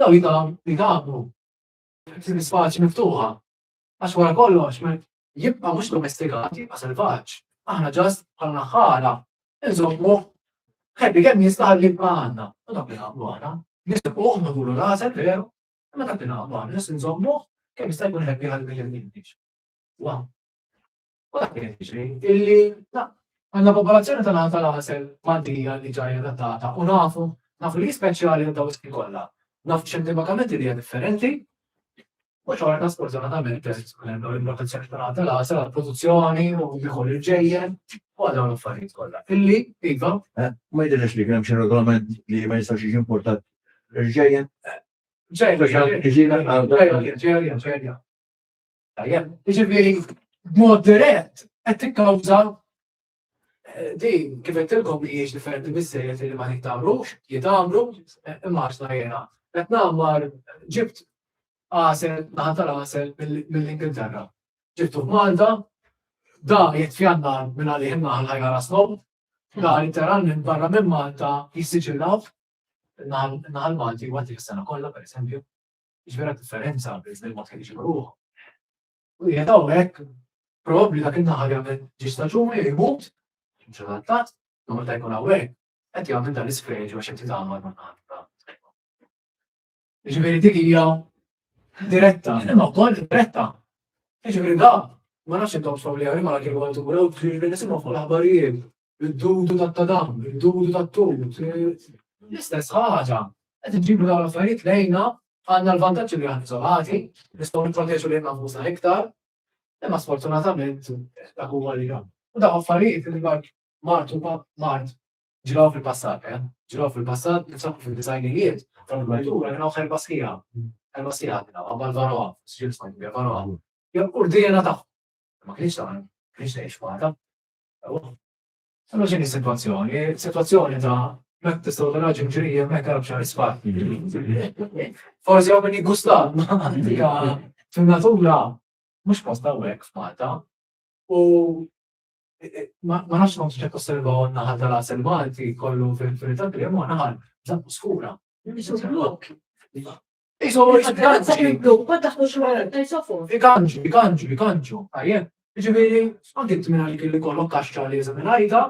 Dawn jidhom li għabu f'din l-ispaċi miftuħa. Għax wara kollox, meta jibqa' mhux domestikat, jibqa' selvaġġ. Aħna ġast bħal naħħara nżommu ħebbi kemm jista' ħalli jibqa' għandna. U dak li nagħmlu aħna, nisibquh nagħmlu rażel veru, imma dak li nagħmlu aħna, nżommuh kemm jista' jkun ħebbi ħalli ma jillimniex. Waw! U dak qed jiġri illi għandna popolazzjoni tal-Għan tal-Għasel Maltija li ġajja adattata u nafu, nafu li hi speċjali għal dawn is-snin kollha. Nafu xjentifakament li hija differenti u xorta sfortunatament teżisti minn hemm dawn il-protezzjoni tal-Għan tal-Għasel għall-produzzjoni u jieħu l-irġejjen u għal dawn l-affarijiet kollha. Illi, iva. Ma jidhirlekx li kien hemm xi regolament li ma jistax jiġi importat l-irġejjen? Ġejja, ġejja, ġejja, ġejja, ġejja. Tajjeb, jiġifieri b'mod dirett qed tikkawża eh, din kif qed tilkom li hiex differenti biżejjed li ma nittamrux, jitamru, eh, immaġna jiena. Qed nagħmar ġibt għasel, naħa tal-għasel mill-Ingilterra. Ġibtu Malta, da jitfjanna minn għalih naħal ħajja rasnom, da jitteran minn barra minn Malta jissiġillaw naħal Malti għad il-sena kollha, per esempio. Ġvera differenza bejn dan il-mod kif iġibu ruħhom. U jgħid hawnhekk probabbli dak in-naħal jagħmel ġi staġuni jmut, mhux adattat, jew meta jkun hawnhekk qed jagħmel dan l-isfreġ għax qed jitgħammar ma' naħal. Ġifieri dik hija diretta, imma wkoll diretta. Ġifieri da, ma nafx intom sawli għal imma kif għandu għu ġifieri nisimgħu fuq l-aħbarijiet id-dudu tat-tadam, id-dudu tat-tut, l-istess ħaġa. Qed inġibu dawn l-affarijiet lejna, għandna l-vantaġġ li aħna iżolati, nistgħu nipproteġu lilna nfusna iktar, imma sfortunatament dak huwa li hemm. U dawn affarijiet li martu mart ġraw fil-passat, eh? Ġraw fil-passat, nsabu fil-disajnijiet, tal-gwajdura, jraw ħerba sħiħa, ħerba sħiħa għadna, għabba l-varoa, s-ġil smajt bja varoa. Jew urdina taħ, ma kienx taħ, kienx taħ xmata, Allura x'inhi s-sitwazzjoni? Sitwazzjoni ta' jekk tistgħu taraġi mġrija hemmhekk għal b'xar isfar. Forsi hawn min jiggusta antika fin-natura mhux post hawnhekk f'Malta. U ma nafx kont ċek osservaw naħal tal-għasel Malti kollu fil-filta krem u naħal żammu skura. Mhux blokk. Iżoġ, ganġi. Ma taħtux wara, tajsofu. Iganġu, iganġu, iganġu. Tajjeb. Ġifieri, anki inti minn għalik li kollok kaxxa li jeżem il-ħajta,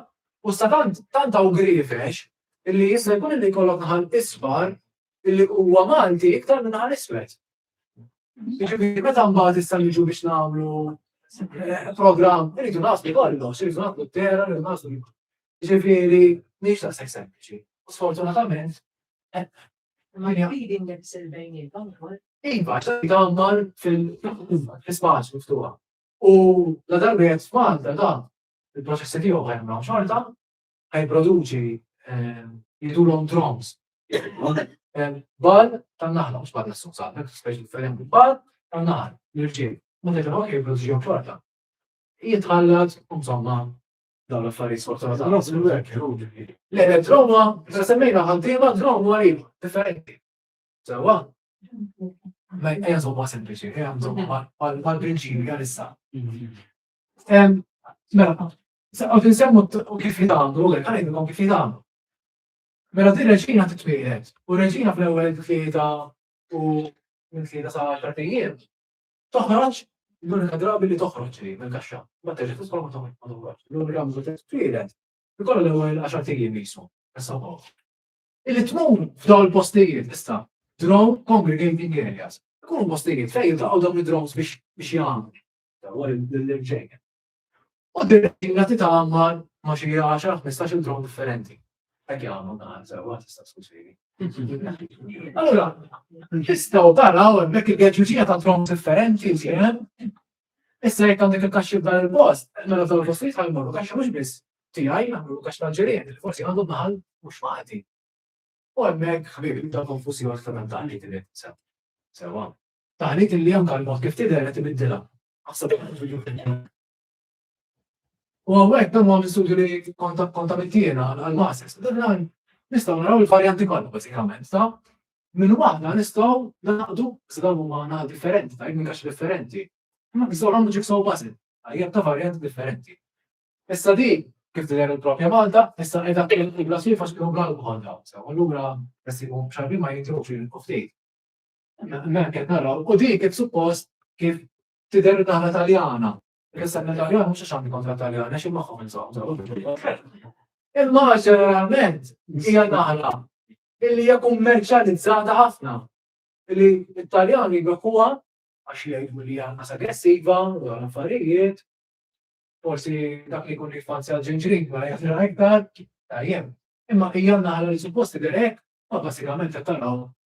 u sa tant tant hawn grifex illi jista' jkun illi jkollok naħal isfar illi huwa Malti iktar minn naħal iswed. Ġifieri, meta mbagħad issa niġu biex nagħmlu eh, programm, irridu naslu kollox, irridu naslu t-terra, irridu naslu. Ġifieri, mhix ta' sempliċi. Sfortunatament, eh, Imma jgħidi nifs il-bejnietom ukoll. Iva, ċerti għammar fil-ispaċ miftuħa. U la darba jgħed f'Malta da, il-proċessi tiegħu ħajmra xorta, ħajproduċi ehm, jidulhom drums. Ehm, bal tan-naħla, mhux bal nessun saħbek, speċi differenti, bal tan-naħal, l-irġiel. Ma tgħidilhom jipproduċihom xorta. Jitħallat, insomma, dawn l-affarijiet sfortunatament. Le, le, drone huwa, meta semmejna ħaddiema, drone huwa li differenti. Sewwa? Ma ejja żomma sempliċi, ejja żomma mal-prinċipju għal issa. Mela, u tinsemmu kif jitgħamlu, għek għalajnkom kif jitgħamlu. Mela din reġina titwielet, u reġina fl-ewwel tlieta u minn tlieta sa' xartijiem, Toħroġ, l-unika drabi li toħroġ hi mill-kaxxa, mbagħad terġa' tidħol ma toħroġx. L-unika meta titwieled ikollha l-ewwel għaxart ijiem qisu, issa wkoll. Illi tmur f'dawn il-postijiet issa, drone congregating areas, ikunu postijiet fejn jiltaqgħu dawn id-drones biex jagħmlu. L-ewwel l-ġejjin. U d-direttiva titgħammar ma' xi għaxar, ħmistax-il drone differenti. Hekk jagħmlu dan sewwa tista' ssostini. Allura, tistgħu taraw hemmhekk il-geġuġija ta' drones differenti li hemm. Issa jekk għandek il-kaxxi f'dan il-post, mela f'dawn il-postijiet ħa jmorru kaxxa mhux biss tiegħi, jagħmlu kaxxa tal-ġirien, li forsi għandu naħal mhux magħti. U hemmhekk ħbieb jibda konfużjoni ta' dan taħlit li qed sew. Sewwa. Taħlit li anke l-mod kif tidher qed ibiddilha. U għawek dan għam studju li kontamittina għal-masses, dan nistaw naraw il-varjanti kollu basikament, ta' minn waħda nistaw naqdu s-dan u maħna differenti, ta' minn kax differenti. Ma nistaw għamlu ġiksaw basil, għajja ta' varjanti differenti. Issa di, kif t-der il-propja Malta, issa edha il-glas jifax kħu għal bħal daw, sa' għallura, jessi għum xarbi ma jintrux il-kuftit. Mek qed naraw, u din kif suppost kif tidher naħa Taljana. Issa l-Italjan mhux għax għandi kontra Taljan, għax imħom insomma. Imma ġeneralment hija naħla illi hija kummerċjalizzata ħafna. Illi l-Italjan jibekuha għax jgħidu li hija nas aggressiva, u affarijiet, forsi dak li jkun jifanzja l-ġinġrin, ma jafna iktar, tajjem. Imma hija naħla li supposti direk, ma basikament qed taraw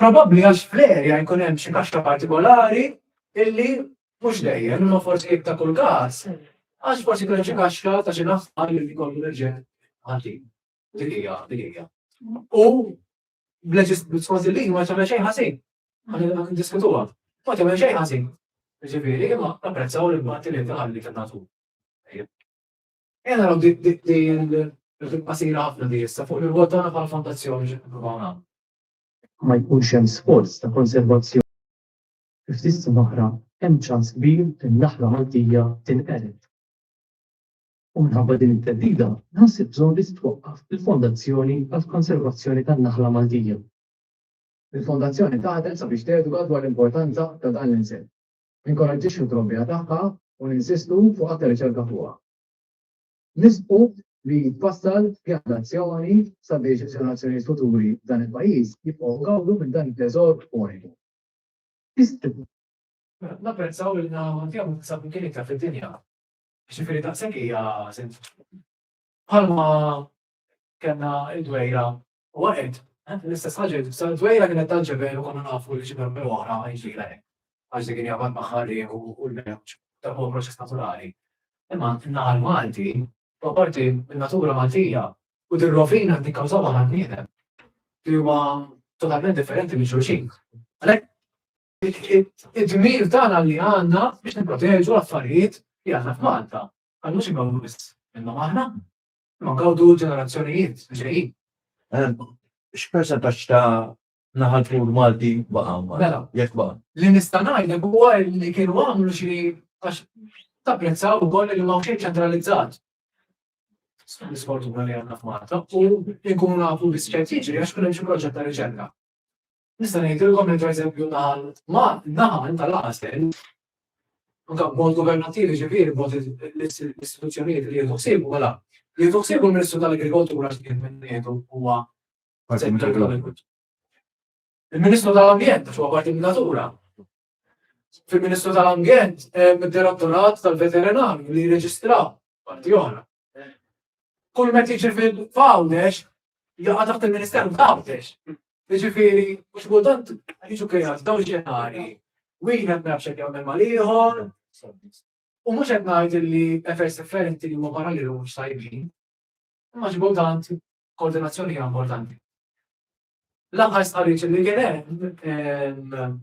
Probabbli għax fl-erja jkun hemm xi kaxxa partikolari illi mhux dejjem, imma forsi jekk ta' kull każ, għax forsi jkun hemm xi kaxxa ta' xi naħħal li jkollu l-irġiel ħażin. Dik hija, dik hija. U skont il-liġi ma tagħmel xejn ħażin. Ħa ndiskutuha. Ma tagħmel xejn ħażin. Ġifieri, imma apprezzaw l-impatt li tħalli fin-natur. E naraw din il-qasira ħafna di issa fuq il-vot tagħna bħal fondazzjoni xi nippruvaw nagħmlu. Jekk ma jkunx hemm sforz ta' konservazzjoni, fi ftit snin oħra hemm ċans kbir li n-naħla Maltija tinqered. U minħabba din it-theddida, nħoss il-bżonn li titwaqqaf il-Fondazzjoni għall-Konservazzjoni tan-Naħla Maltija. Il-Fondazzjoni taħdem sabiex teduka dwar l-importanza ta' dan l-insett, ninkoraġġixxu t-trobbija tagħha u ninsistu fuq aktar riċerka fuqha. Nisħqu li jitfassal pjan t'azzjoni sabiex ġenerazzjonijiet futuri f'dan il-pajjiż jibqgħu jgawdu minn dan it-teżor uniku. Tistħu. Napprezzaw li l-għan tiegħu jinsab minn kien iktar fid-dinja. Jiġifieri daqshekk hija sens. Bħalma kellna d-dwejra Huwa qed, eh, l-istess ħaġa li tibsa dwejra kienet tal-ġebel u konna nafu li xi darba oħra ħajġira hekk. Għax dik hija bad magħha riħ u l-mewġ, dak huwa proċess naturali. Imma n-naħa l-Malti, huwa parti min-natura Maltija u dir-rovina li tikkawżaw aħna bniedem li huwa totalment differenti minn xulxin. Għalhekk id-dmir tagħna li għandna biex nipproteġu l-affarijiet li għandna f'Malta. Għandu xi mawwis minnhom aħna. Imma ngawdu l-ġenerazzjonijiet li ġejjin. X'persentaġġ ta' naħal fur Malti baqa' Mela, jekk baqa'. Li nista' ngħidlek huwa li kienu għamlu xi għax tapprezzaw ukoll li ma xejn ċentralizzat. L-isfortuna li għandna f'Malta u nkunu nafu biss ċert jiġri għax kien hemm xi proġett ta' riċerka. Nista' ngħidilkom li pereżempju naħal naħal tal-għażel anke b'mod governattivi ġifieri b'mod l-istituzzjonijiet li jieħdu ħsiebu mela jieħdu ħsiebu l-Ministru tal-Agrikoltura x'kien minn ngħidu huwa Il-Ministru tal-Ambjent għax huwa parti min-natura. Fil-Ministru tal-Ambjent hemm id-Direttorat tal-Veterinarju li jirreġistra parti oħra. Kull meta jiġi fil-Għawdex, jaqa' taħt il-Ministeru f'Għawdex. Jiġifieri, mhux kultant jiġu kreat dawn ġenari. Wieħed ma jafx jagħmel mal-ieħor. U mhux qed ngħid li effers differenti li huma paralleli mhux tajbin. Imma ġbudant koordinazzjoni hija importanti. L-aħħar stqarriġ li kien hemm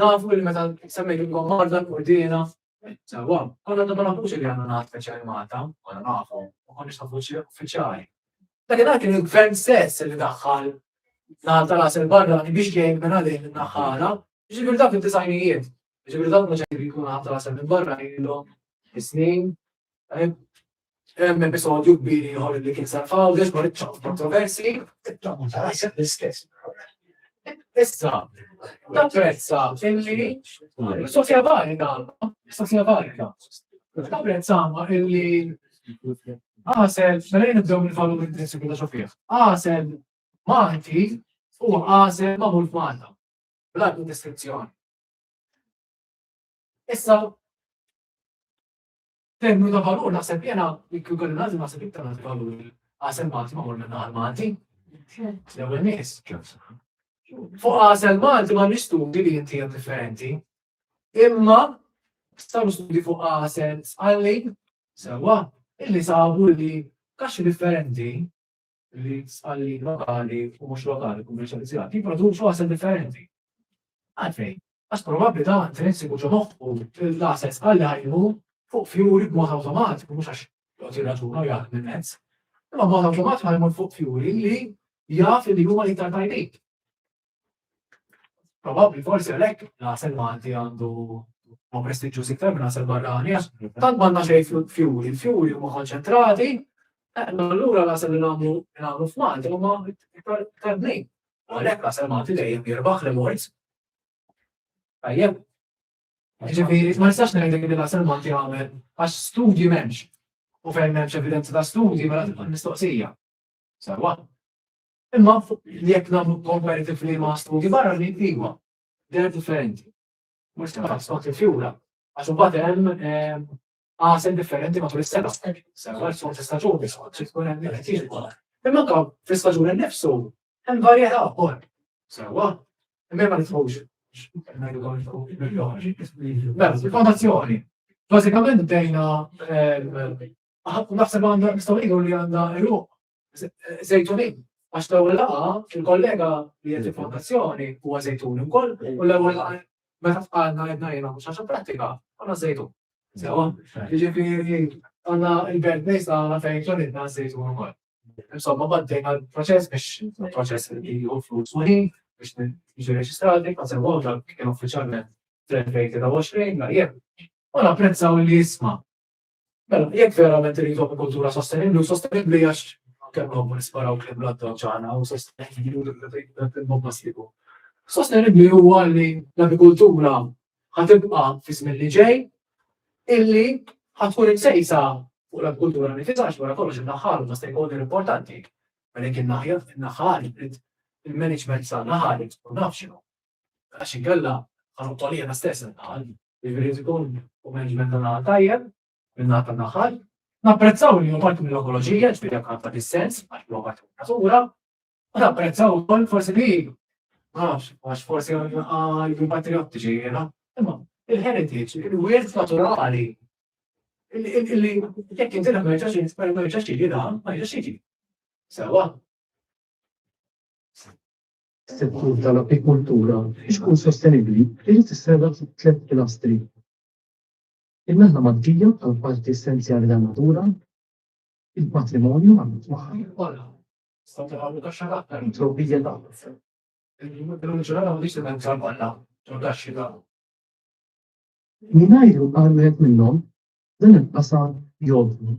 Nafu li meta semmejt ilkom marda l-kurdina, sewa, konna ta' ma nafux li għandna ngħad speċjali Malta, konna nafu, u konniex nafu uffiċjali. Dakinhar kien il-gvern stess li daħħal ngħad tal-għas il-barra biex jgħin minn għalih naħħala, ġifier dak id-disajnijiet, ġifier dak ma ġejjin jkun ngħad tal-għas minn barra ilhom is-snin, Hemm episodju kbir ieħor li kien sar f'Għawdex dwar iċ-ċans kontroversi. Issa, napprezza illi Sofja Varga, Sofja Varga, napprezza illi għasel, mela nibdew mill-valur intrinsiku ta' Sofja, għasel Malti u għasel ma' mult Malta, bla distinzjoni. Issa, Terminu ta' valur naħseb jiena li kieku kelli nagħżel naħseb iktar nagħti valur lill-għasel Malti magħmul minn naħal Malti. L-ewwel nies. Fuq għasel Malti ma nistudi li inti hemm differenti. Imma staw nistudi fuq għasel sqalli sewwa illi sabu li kaxxi differenti li sqalli lokali u mhux lokali kummerċjalizzati jipproduċu asset differenti. Għalfejn, għax probabbli dan intrinsiku ġo moħħu l-asset sqalli ħajmu fuq fjuri b'mod awtomatiku mhux għax jgħod jirraġuna u jgħid minn mezz. Imma b'mod awtomatiku ħajmu fuq fjuri li jaf li huma iktar tajbin. Probabbli forsi għalhekk l-għasel Malti għandu ma prestiġġuż iktar minn għasel barrani għax tant m'għandna xejn fjuri, il-fjuri huma konċentrati, eh, allura l-għasel li nagħmlu nagħmlu f'Malti huma iktar bnin. U għalhekk l-għasel Malti dejjem jirbaħ li morz. Tajjeb. Ġifieri ma nistax ngħidlek li l-għasel Malti għamel għax studji m'hemmx. U fejn m'hemmx evidenza ta' studji mela tibqa' mistoqsija. Sawa. Imma jekk nagħmlu komparatively ma' studji barranin, iva, they're differenti. Mhux tibqa' skont il-fjura, għax imbagħad hemm għasel differenti matul is-sena. Sewa skont istaġuni, skont xi tkun hemm qed jiġu. Imma anke fl-istaġun innifsu hemm varjetà wkoll. Sewa, imma ma nitħux Mela, il-fondazzjoni. Bażikament bdejna naħseb għandha nistgħu ngħidu li għandha eruq Zejtunin, għax l-ewwel laqgħa il-kollega li qed il-fondazzjoni huwa żejtun ukoll u l-ewwel laqgħa meta fqalna qed ngħinha mhux għax prattika għandna żejtun. Sewa, jiġifieri għandna l-belt nies għandna fejn ġolidna żejtun ukoll. Insomma, baddejna l-proċess biex proċess li hu flus u ħin biex jiġu reġistrati, ma sewa dak kien uffiċjalment 2023 ma jien. U napprezzaw li jisma' Mela, jekk verament irridu agrikoltura sostenibbli u sostenibbli għax kemm nobbu nisparaw kliem l-adda ġana u sostenibbli u l-bomba sliku. Sostenibbli huwa li l-agrikoltura ħatibqa' fi żmien li ġej illi ħatkun imsejsa fuq l-agrikoltura nifisha għax wara kollox in-naħal ma stakeholder importanti. Mela jekk in-naħja in-naħal il-management sa naħal u naf x'inhu. Għax inkella ħanqtolija stess in-naħal. Jiġifieri jrid ikun management tan-naħal tajjeb, min-naħa tan-naħal. Napprezzaw li hu parti mill-ekoloġija, jiġifieri jekk għandha dis-sens għax huwa parti min-natura, u napprezzaw ukoll forsi li ma nafx, għax forsi jkun patriottiċi jiena, imma il-heritage, il-wirt naturali, illi jekk inti ma jiġax ma jiġax jiġi dan, ma jiġax jiġi. Sewa. Settur tal-agrikoltura biex ikun sostenibbli irid isserraħ fuq tliet pilastri. In-naħla Maltija bħala parti essenzjali tan-natura, il-patrimonju marbut magħha, it-trobbija tal-għalf. Mingħajr għal wieħed minnhom, dan il-qasam jgħodd.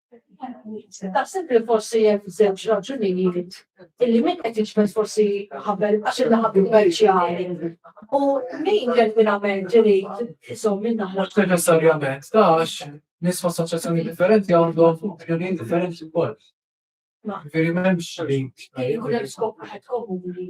Taħseb li forsi hemm żewġ raġunijiet illi min qed jiġbed forsi ħabel għax il-laħab kummerċjali u min ġenwinament irid iżomm minn naħla. Mhux neċessarjament ta' għax nies f'assoċjazzjoni differenti għandhom opinjonijiet differenti wkoll. Veri m'hemmx li. Jkun hemm skop wieħed komuni.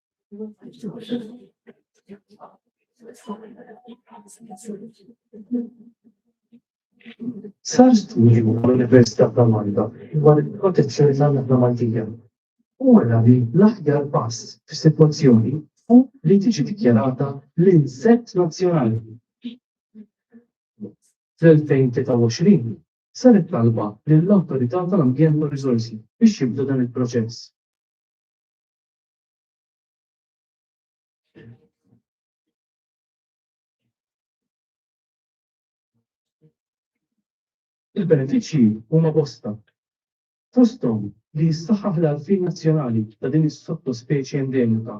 Sar studju l-Università ta' Malta dwar il-protezzjoni tal-nabla Maltija. U għara li l-aħjar pass fis-sitwazzjoni u li tiġi dikjarata l-insett nazzjonali. Fl-2023 saret talba lill-Awtorità tal-Ambjent u Riżorsi biex jibdu dan il-proċess. Il-benefiċċji huma bosta, fosthom li jissaħħaħ l-għarfien nazzjonali ta' din is-sottospeċi endemika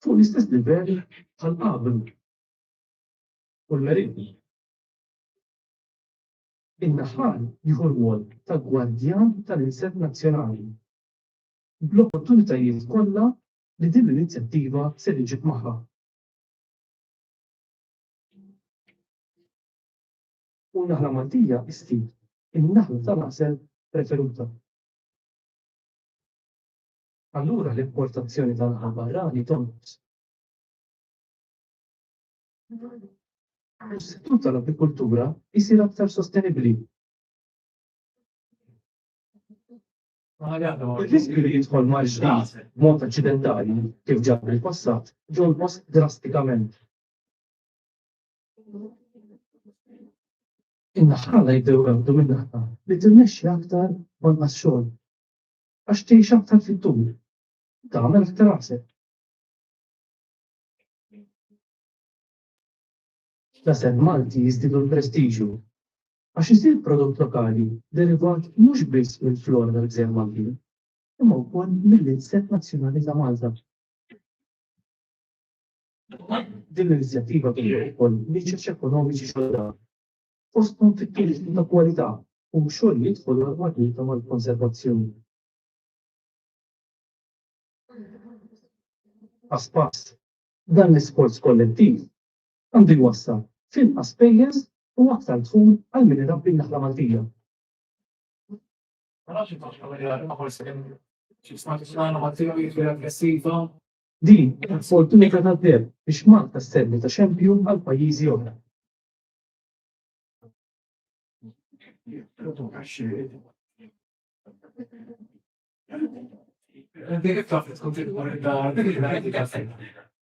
fuq l-istess livell bħal qabel u l-Merinn. In-naħal jieħu r-rwol ta' gwardjan tal-insett nazzjonali. bl-opportunitajiet kollha li din l-inizjattiva ser iġib magħha. U n-naħla Maltija isti n-naħla tal-għasel preferuta. Allura l-importazzjoni tal-laħam barrani tonqos. U s-settur tal-apikultura jsir aktar sostenibbli. Ir-riskju li jidħol mal-ġdid b'mod aċċidentali, kif ġara fil-passat, jonqos drastikament. In-naħħala jibdew iweggħdu min-naħla li timmexxi aktar b'anqas xogħol, għax tgħix aktar fit-tul, u tagħmel aktar għasel. L-għasel Malti jiżdiedu l-prestiġju għax isir prodott lokali derivat mhux biss mill-flora tal-Gżejjer Maltin, imma wkoll mill-inset nazzjonali ta' Malta. Din l-inizjattiva toħloq ukoll niċeċ ekonomiċi ġodda, fosthom fit-turiżmu ta' kwalità u xogħol li jidħol għal marbuta mal-konservazzjoni. Pass pass, dan l-isforz kollettiv għandu jwassal f'inqas spejjeż u aktar dħul għal min irabbi n-naħla Maltija. Din hija opportunità tad-deheb biex Malta sservi ta' xempju għal pajjiżi oħra.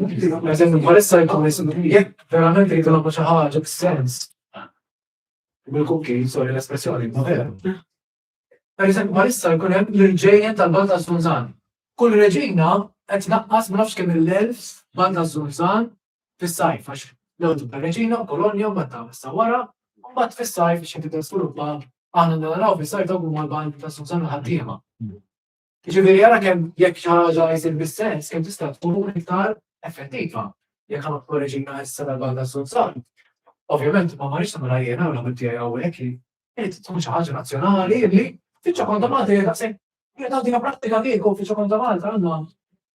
Eżempju, bħalissa jkun ismu jekk verament rridu nagħmlu xi ħaġa b'sens. Bil-kuki, sorry l-espressjoni, ma vera. Per eżempju, bħalissa jkun hemm l-irġejjen tal-Bal ta' Zunzan. Kull reġina qed naqqas ma nafx kemm il-elfs Bal ta' Zunzan fis-sajf għax l-għodu ta' reġina u kolonja u meta issa wara, u mbagħad fis-sajf xi tibda sviluppa aħna naraw fis-sajf dawk huma l-Bal ta' Zunzan ħaddiema. Jiġifieri ara kemm jekk xi ħaġa jsir bis-sens kemm tista' tkun iktar effettiva. Jekk aħna kkoreġina issa l-banda tas-Sulzan, ovvjament ma marrix nagħmilha jiena u l-ħabib tiegħi hawnhekk li irid tkun xi ħaġa nazzjonali li fiċċa konta Malta hija daqshekk hija tagħtina prattika kieku fiċċa konta Malta għandna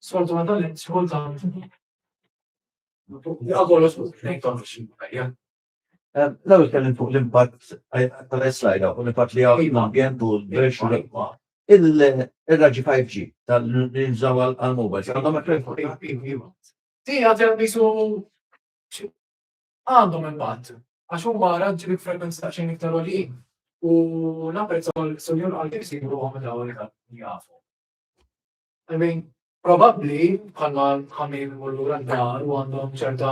sfortunatament xi kultant Għagħu l-osbut, nejtom xie, L-ewwel tkellimt fuq l-impatt tal-slajda u l-impatt li hawn l-ambjent u l-belt u l-ilma. Ir-raġġi 5G li jintużaw għall-mowbajls għandhom effett fuq il-klima? Ti għad hemm qisu għandhom impatt għax huma raġġi bi frekwenzji daqsxejn iktar għoljin u napprezza wkoll is-Sinjur qal kif isibu ruħhom meta hawn iktar jafu. I mean, probabbli bħalma ħamir imur lura d-dar u għandhom ċerta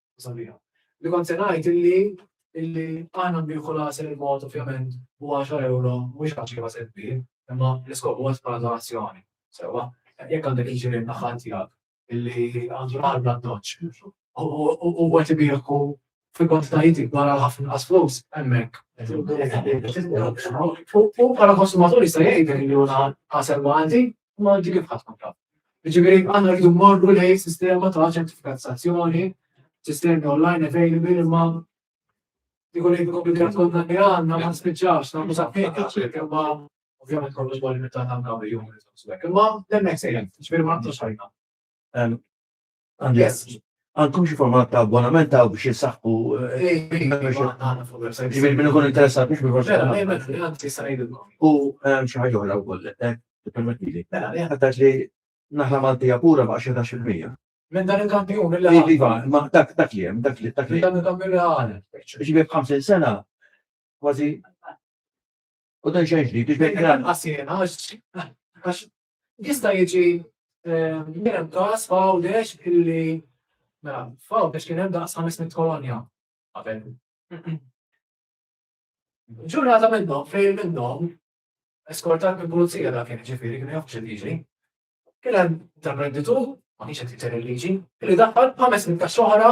sabiħa. Li kont se ngħid illi illi aħna nbieħu l-għasel il-mod ovvjament u 10 euro mhux ħaġa li wased bi, imma l-iskop huwa bħala donazzjoni. Sewa, jekk għandek il-ġirien naħa tiegħek illi għandu l-ħar bla doċ u għet ibiħku fil-kwantitajiet ikbar għal ħafna qas flus hemmhekk. U bħala konsumatur jista' jgħid li juna għasel ma għandi Imma inti kif ħadd tkun taf? Jiġifieri aħna rridu mmorru lejn sistema ta' ċertifikazzazzjoni, sistemi online available imma jkun li komplikat konna li għandna ma spiċċax nagħmlu saħħiet imma ovvjament kollox ma limitat għandna jum. Imma l-next sejjem, ġifieri ma nagħtux ħajna. Yes. Għandkom xi format ta' abbonament ta' biex jisaxħu. Ġifieri minn ikun interessat biex minn U xi ħaġa oħra wkoll. Permettili. Mela, li ħadd li naħla Maltija pura ma' xi tax il-mija. Minn dan il-kampjun li għal. Iva, ma dak dak li hemm, dak li dak li. Dan il-kampjun li għal. Ġibi b'50 sena kważi. U dan xejn ġdid, ġibi kien. Għasien, għax Jista' jiġi kien hemm każ f'Għawdex illi mela f'Għawdex kien hemm daqs 500 kolonja qabel. Ġurnata minnhom fejn minnhom eskortat minn pulizija dak kien ġifieri kien jafx il-liġi. Kien hemm intraprenditur ma kienx qed jither il-liġi, li daħħal 500 kaxxa oħra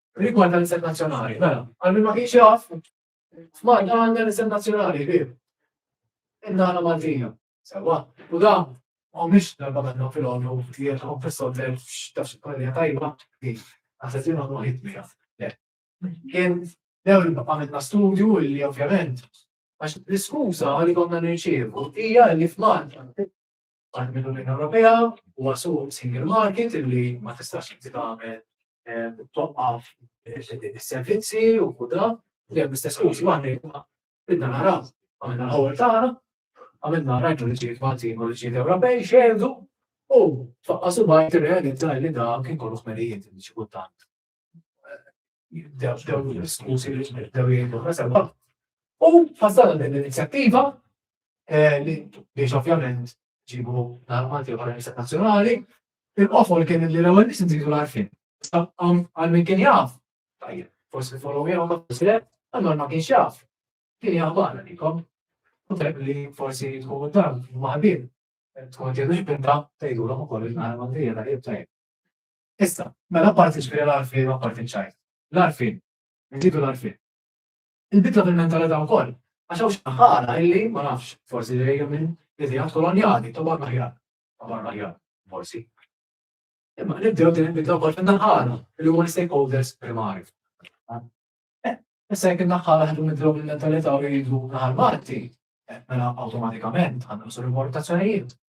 Rigward tal-isem nazzjonali, mela, għal min ma kienx jaf, Malta għandha l-isem nazzjonali, bir. Indana Maltija, sewa. U da, u mhix darba għandna fil-għonu, jgħet għom fil-soddel, x'tafx il-kollega tajba, kif, għasetin għonu għajt mija. Kien, dew li għamilna studju li ovvjament, għax l-iskuza li konna nirċievu, hija li f'Malta, parti mill-Unjoni Ewropea huwa suq single market illi ma tistax inti tagħmel eh, toqqaf is-servizzi u kuda li hemm istess użi waħda bidna naraw għamilna l-ħol tagħna għamilna rajtu li ġiet Maltin u li ġiet Ewropej xerdu u tfaqqasu bajt irrealizza li da kien kollu ħmerijiet li xi kultant dawn l-iskużi li daw jgħidu ħasabha. U fassal din l-inizjattiva eh, li biex ovvjament ġibu l-armati u l-Istat Nazzjonali, il-qofol kien li l-ewwel nies nżidu l-arfin. Għal min kien jaf, tajjeb, forsi follow me ma tislet, allora ma kienx jaf. Kien jaf barra likom. U tajb li forsi tkun dan maħbin. Tkun ġedu xbinta tgħidulhom ukoll il-armati jgħid tajjeb. Issa, mela apparti ġifieri l-għarfien u apparti ċ-ċajt. L-għarfien. Nżidu l-għarfien. Il-bidla fil-mentalità wkoll, għax hawn xi ħala illi, ma nafx, forsi ġejja minn ideat kolonjali ta' barra aħjar, ta' barra aħjar, forsi. Imma nibdew din il-bidla wkoll fin-naħala li huma l-stakeholders primari. Eh, issa jekk in-naħala ħadu nibdew bil-mentalità u jgħidu naħal Malti, eh, mela awtomatikament għandna l-importazzjonijiet.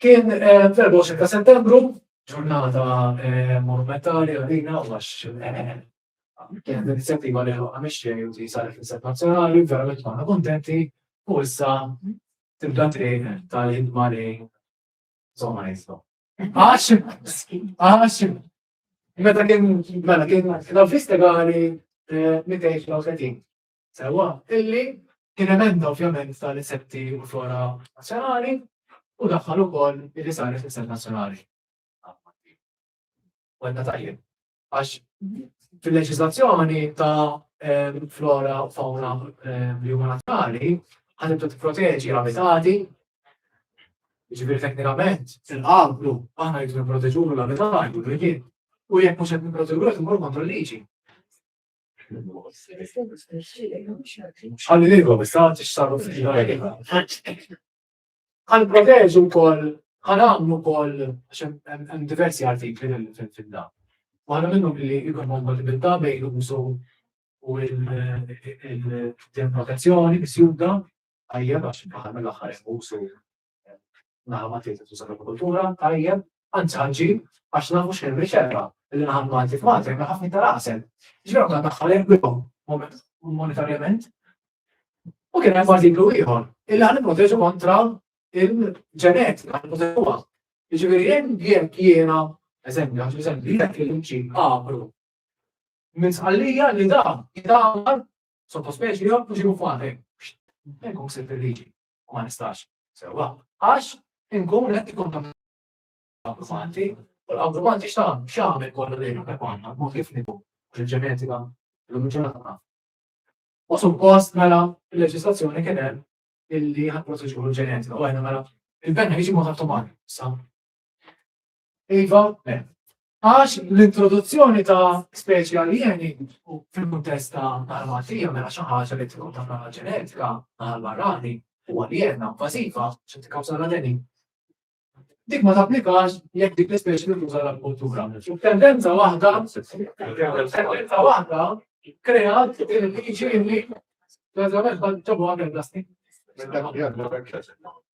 Kien fl-24 ta' Settembru, ġurnata monumentali għalina u għax kienet inizjattiva li ħloqna mix-xejn u li saret fl-Istat Nazzjonali, verament konna kuntenti u issa tibda triq tal-ħidma li insomma nistgħu. Għax, għax, meta kien, mela kien l-avviż legali 230. sewwa, illi kien emenda ovvjament tal-insetti u l-flora nazzjonali u daħħal ukoll illi saret l-insett nazzjonali. Għedna tajjeb. Għax fil-leġislazzjoni ta' ehm, flora u fauna ehm, li huma nazzjonali, ħadet tipproteġi l-abitati, ġibir teknikament, fil-qablu, aħna jridu nipproteġuru l-abitati, u jien, u jekk mhux qed nipproteġuru qed immur kontra l-liġi. Għalli l-ilkom, istanti x-sabu Għan proteġu kol, għan għamlu kol, għan diversi artikli fil-fidda. Għana minnu billi ikon għan kompatibilta bejn l-użu u il-demarkazzjoni, bis-juda, għajja għax bħal l-axħar użu naħa Malti tuża l-agrikoltura, tajjeb, anzi ħanġib, għax nafu xejn riċerka li naħa Malti f'Malti hemm ħafna iktar għasel. Ġifieri għandna daħħal irwibhom monetarjament. U kien hemm artiklu ieħor illi ħan nipproteġu kontra il-ġenetika, ħan nipproteġuha. Ġifieri hemm jekk jiena, eżempju, għax eżempju, jekk il-mċin qabru minn sqallija li da jidamar sottospeċi jew mhux ikun fatek. Hemm konsent il-liġi. u ma nistax sewwa għax inkun qed ikkontamina l-abbużanti u l-abbużanti x'tagħmel x'għamel kollu lejn hekk għandna mod kif nibu il-ġenetika l-ġurnata U suppost mela il-leġislazzjoni kien hemm illi ħadd proteġu l-ġenetika u għajna mela il-benna jiġi muħattu mar sa Iva, għax l-introduzzjoni ta' speċi aljeni fil-kuntest ta' tal-matija mela xi ħaġa li tkun ta' naħa ġenetika għal barrani u għaljena invażiva xi tikkawża l-għaleni. Dik ma tapplikax jekk dik l-ispeċi li tuża l-agrikoltura. Tendenza waħda, tendenza waħda kreat il-liġi li l-eżamet ġabu għamil plastik.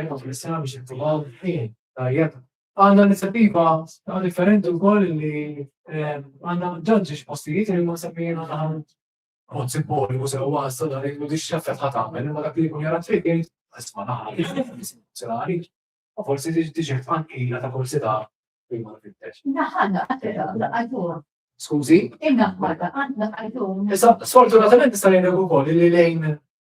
Imma fl-isem biex jittumaw ħin tajjeb. Għanna inizjattiva differenti wkoll li ehm, għanna ġanġi postijiet li ma semmijin għanna mod simboliku sew għassa dan il mudix xaffet ħat għamel, imma dak li jkun jara t-trikin, għasma naħari, s-sirari, u forsi diġi tfankila ta' forsi ta' prima fil-tex. Naħħanna, għatera, għaddu. Skużi? Inna għadda, għadda għaddu. Issa, sfortunatament nista' jgħidu wkoll li lejn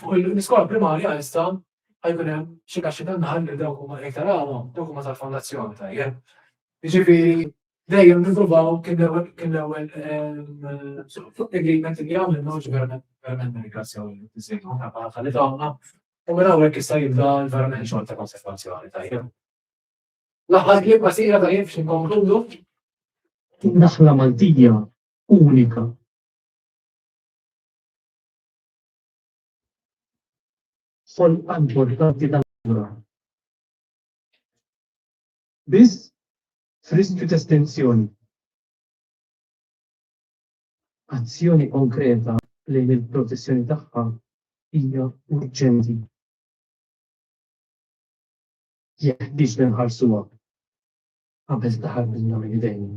Fuq l-iskola primarja issa ħajkun hemm xi kaxxi tan-naħal li dawk huma iktar għama, dawk huma tal-fondazzjoni tajjeb. Jiġifieri dejjem nippruvaw kien l-ewwel fuq agreement li għamilna ġi verament nirringrazzjaw il-President Ħafna Paħfa li tawna u minn hawnhekk issa jibda verament xogħol ta' konservazzjoni tajjeb. L-aħħar kliem qasira tajjeb biex inkonkludu. Naħla Maltija unika. Xogħol importanti ta' natura. Biss f'riskju ta' estensjoni. Azzjoni konkreta lejn il-protezzjoni tagħha hija urġenti. Jeħtieġ li nħarsuha qabel taħarbilna minn idejna.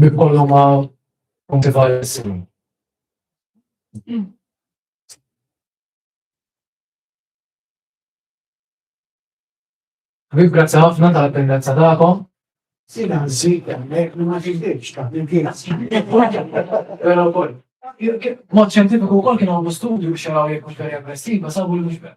Bikollhom ma' punti valissimi. Ħbib, grazzi ħafna tal-pendenza tagħkom. Sina nżid hemmhekk li ma ġibdilx ta' il-kienas. Però wkoll. Mod xjentifiku wkoll kienu għamlu studju xeraw jekk mhux veri aggressiva sabu li mhux vera.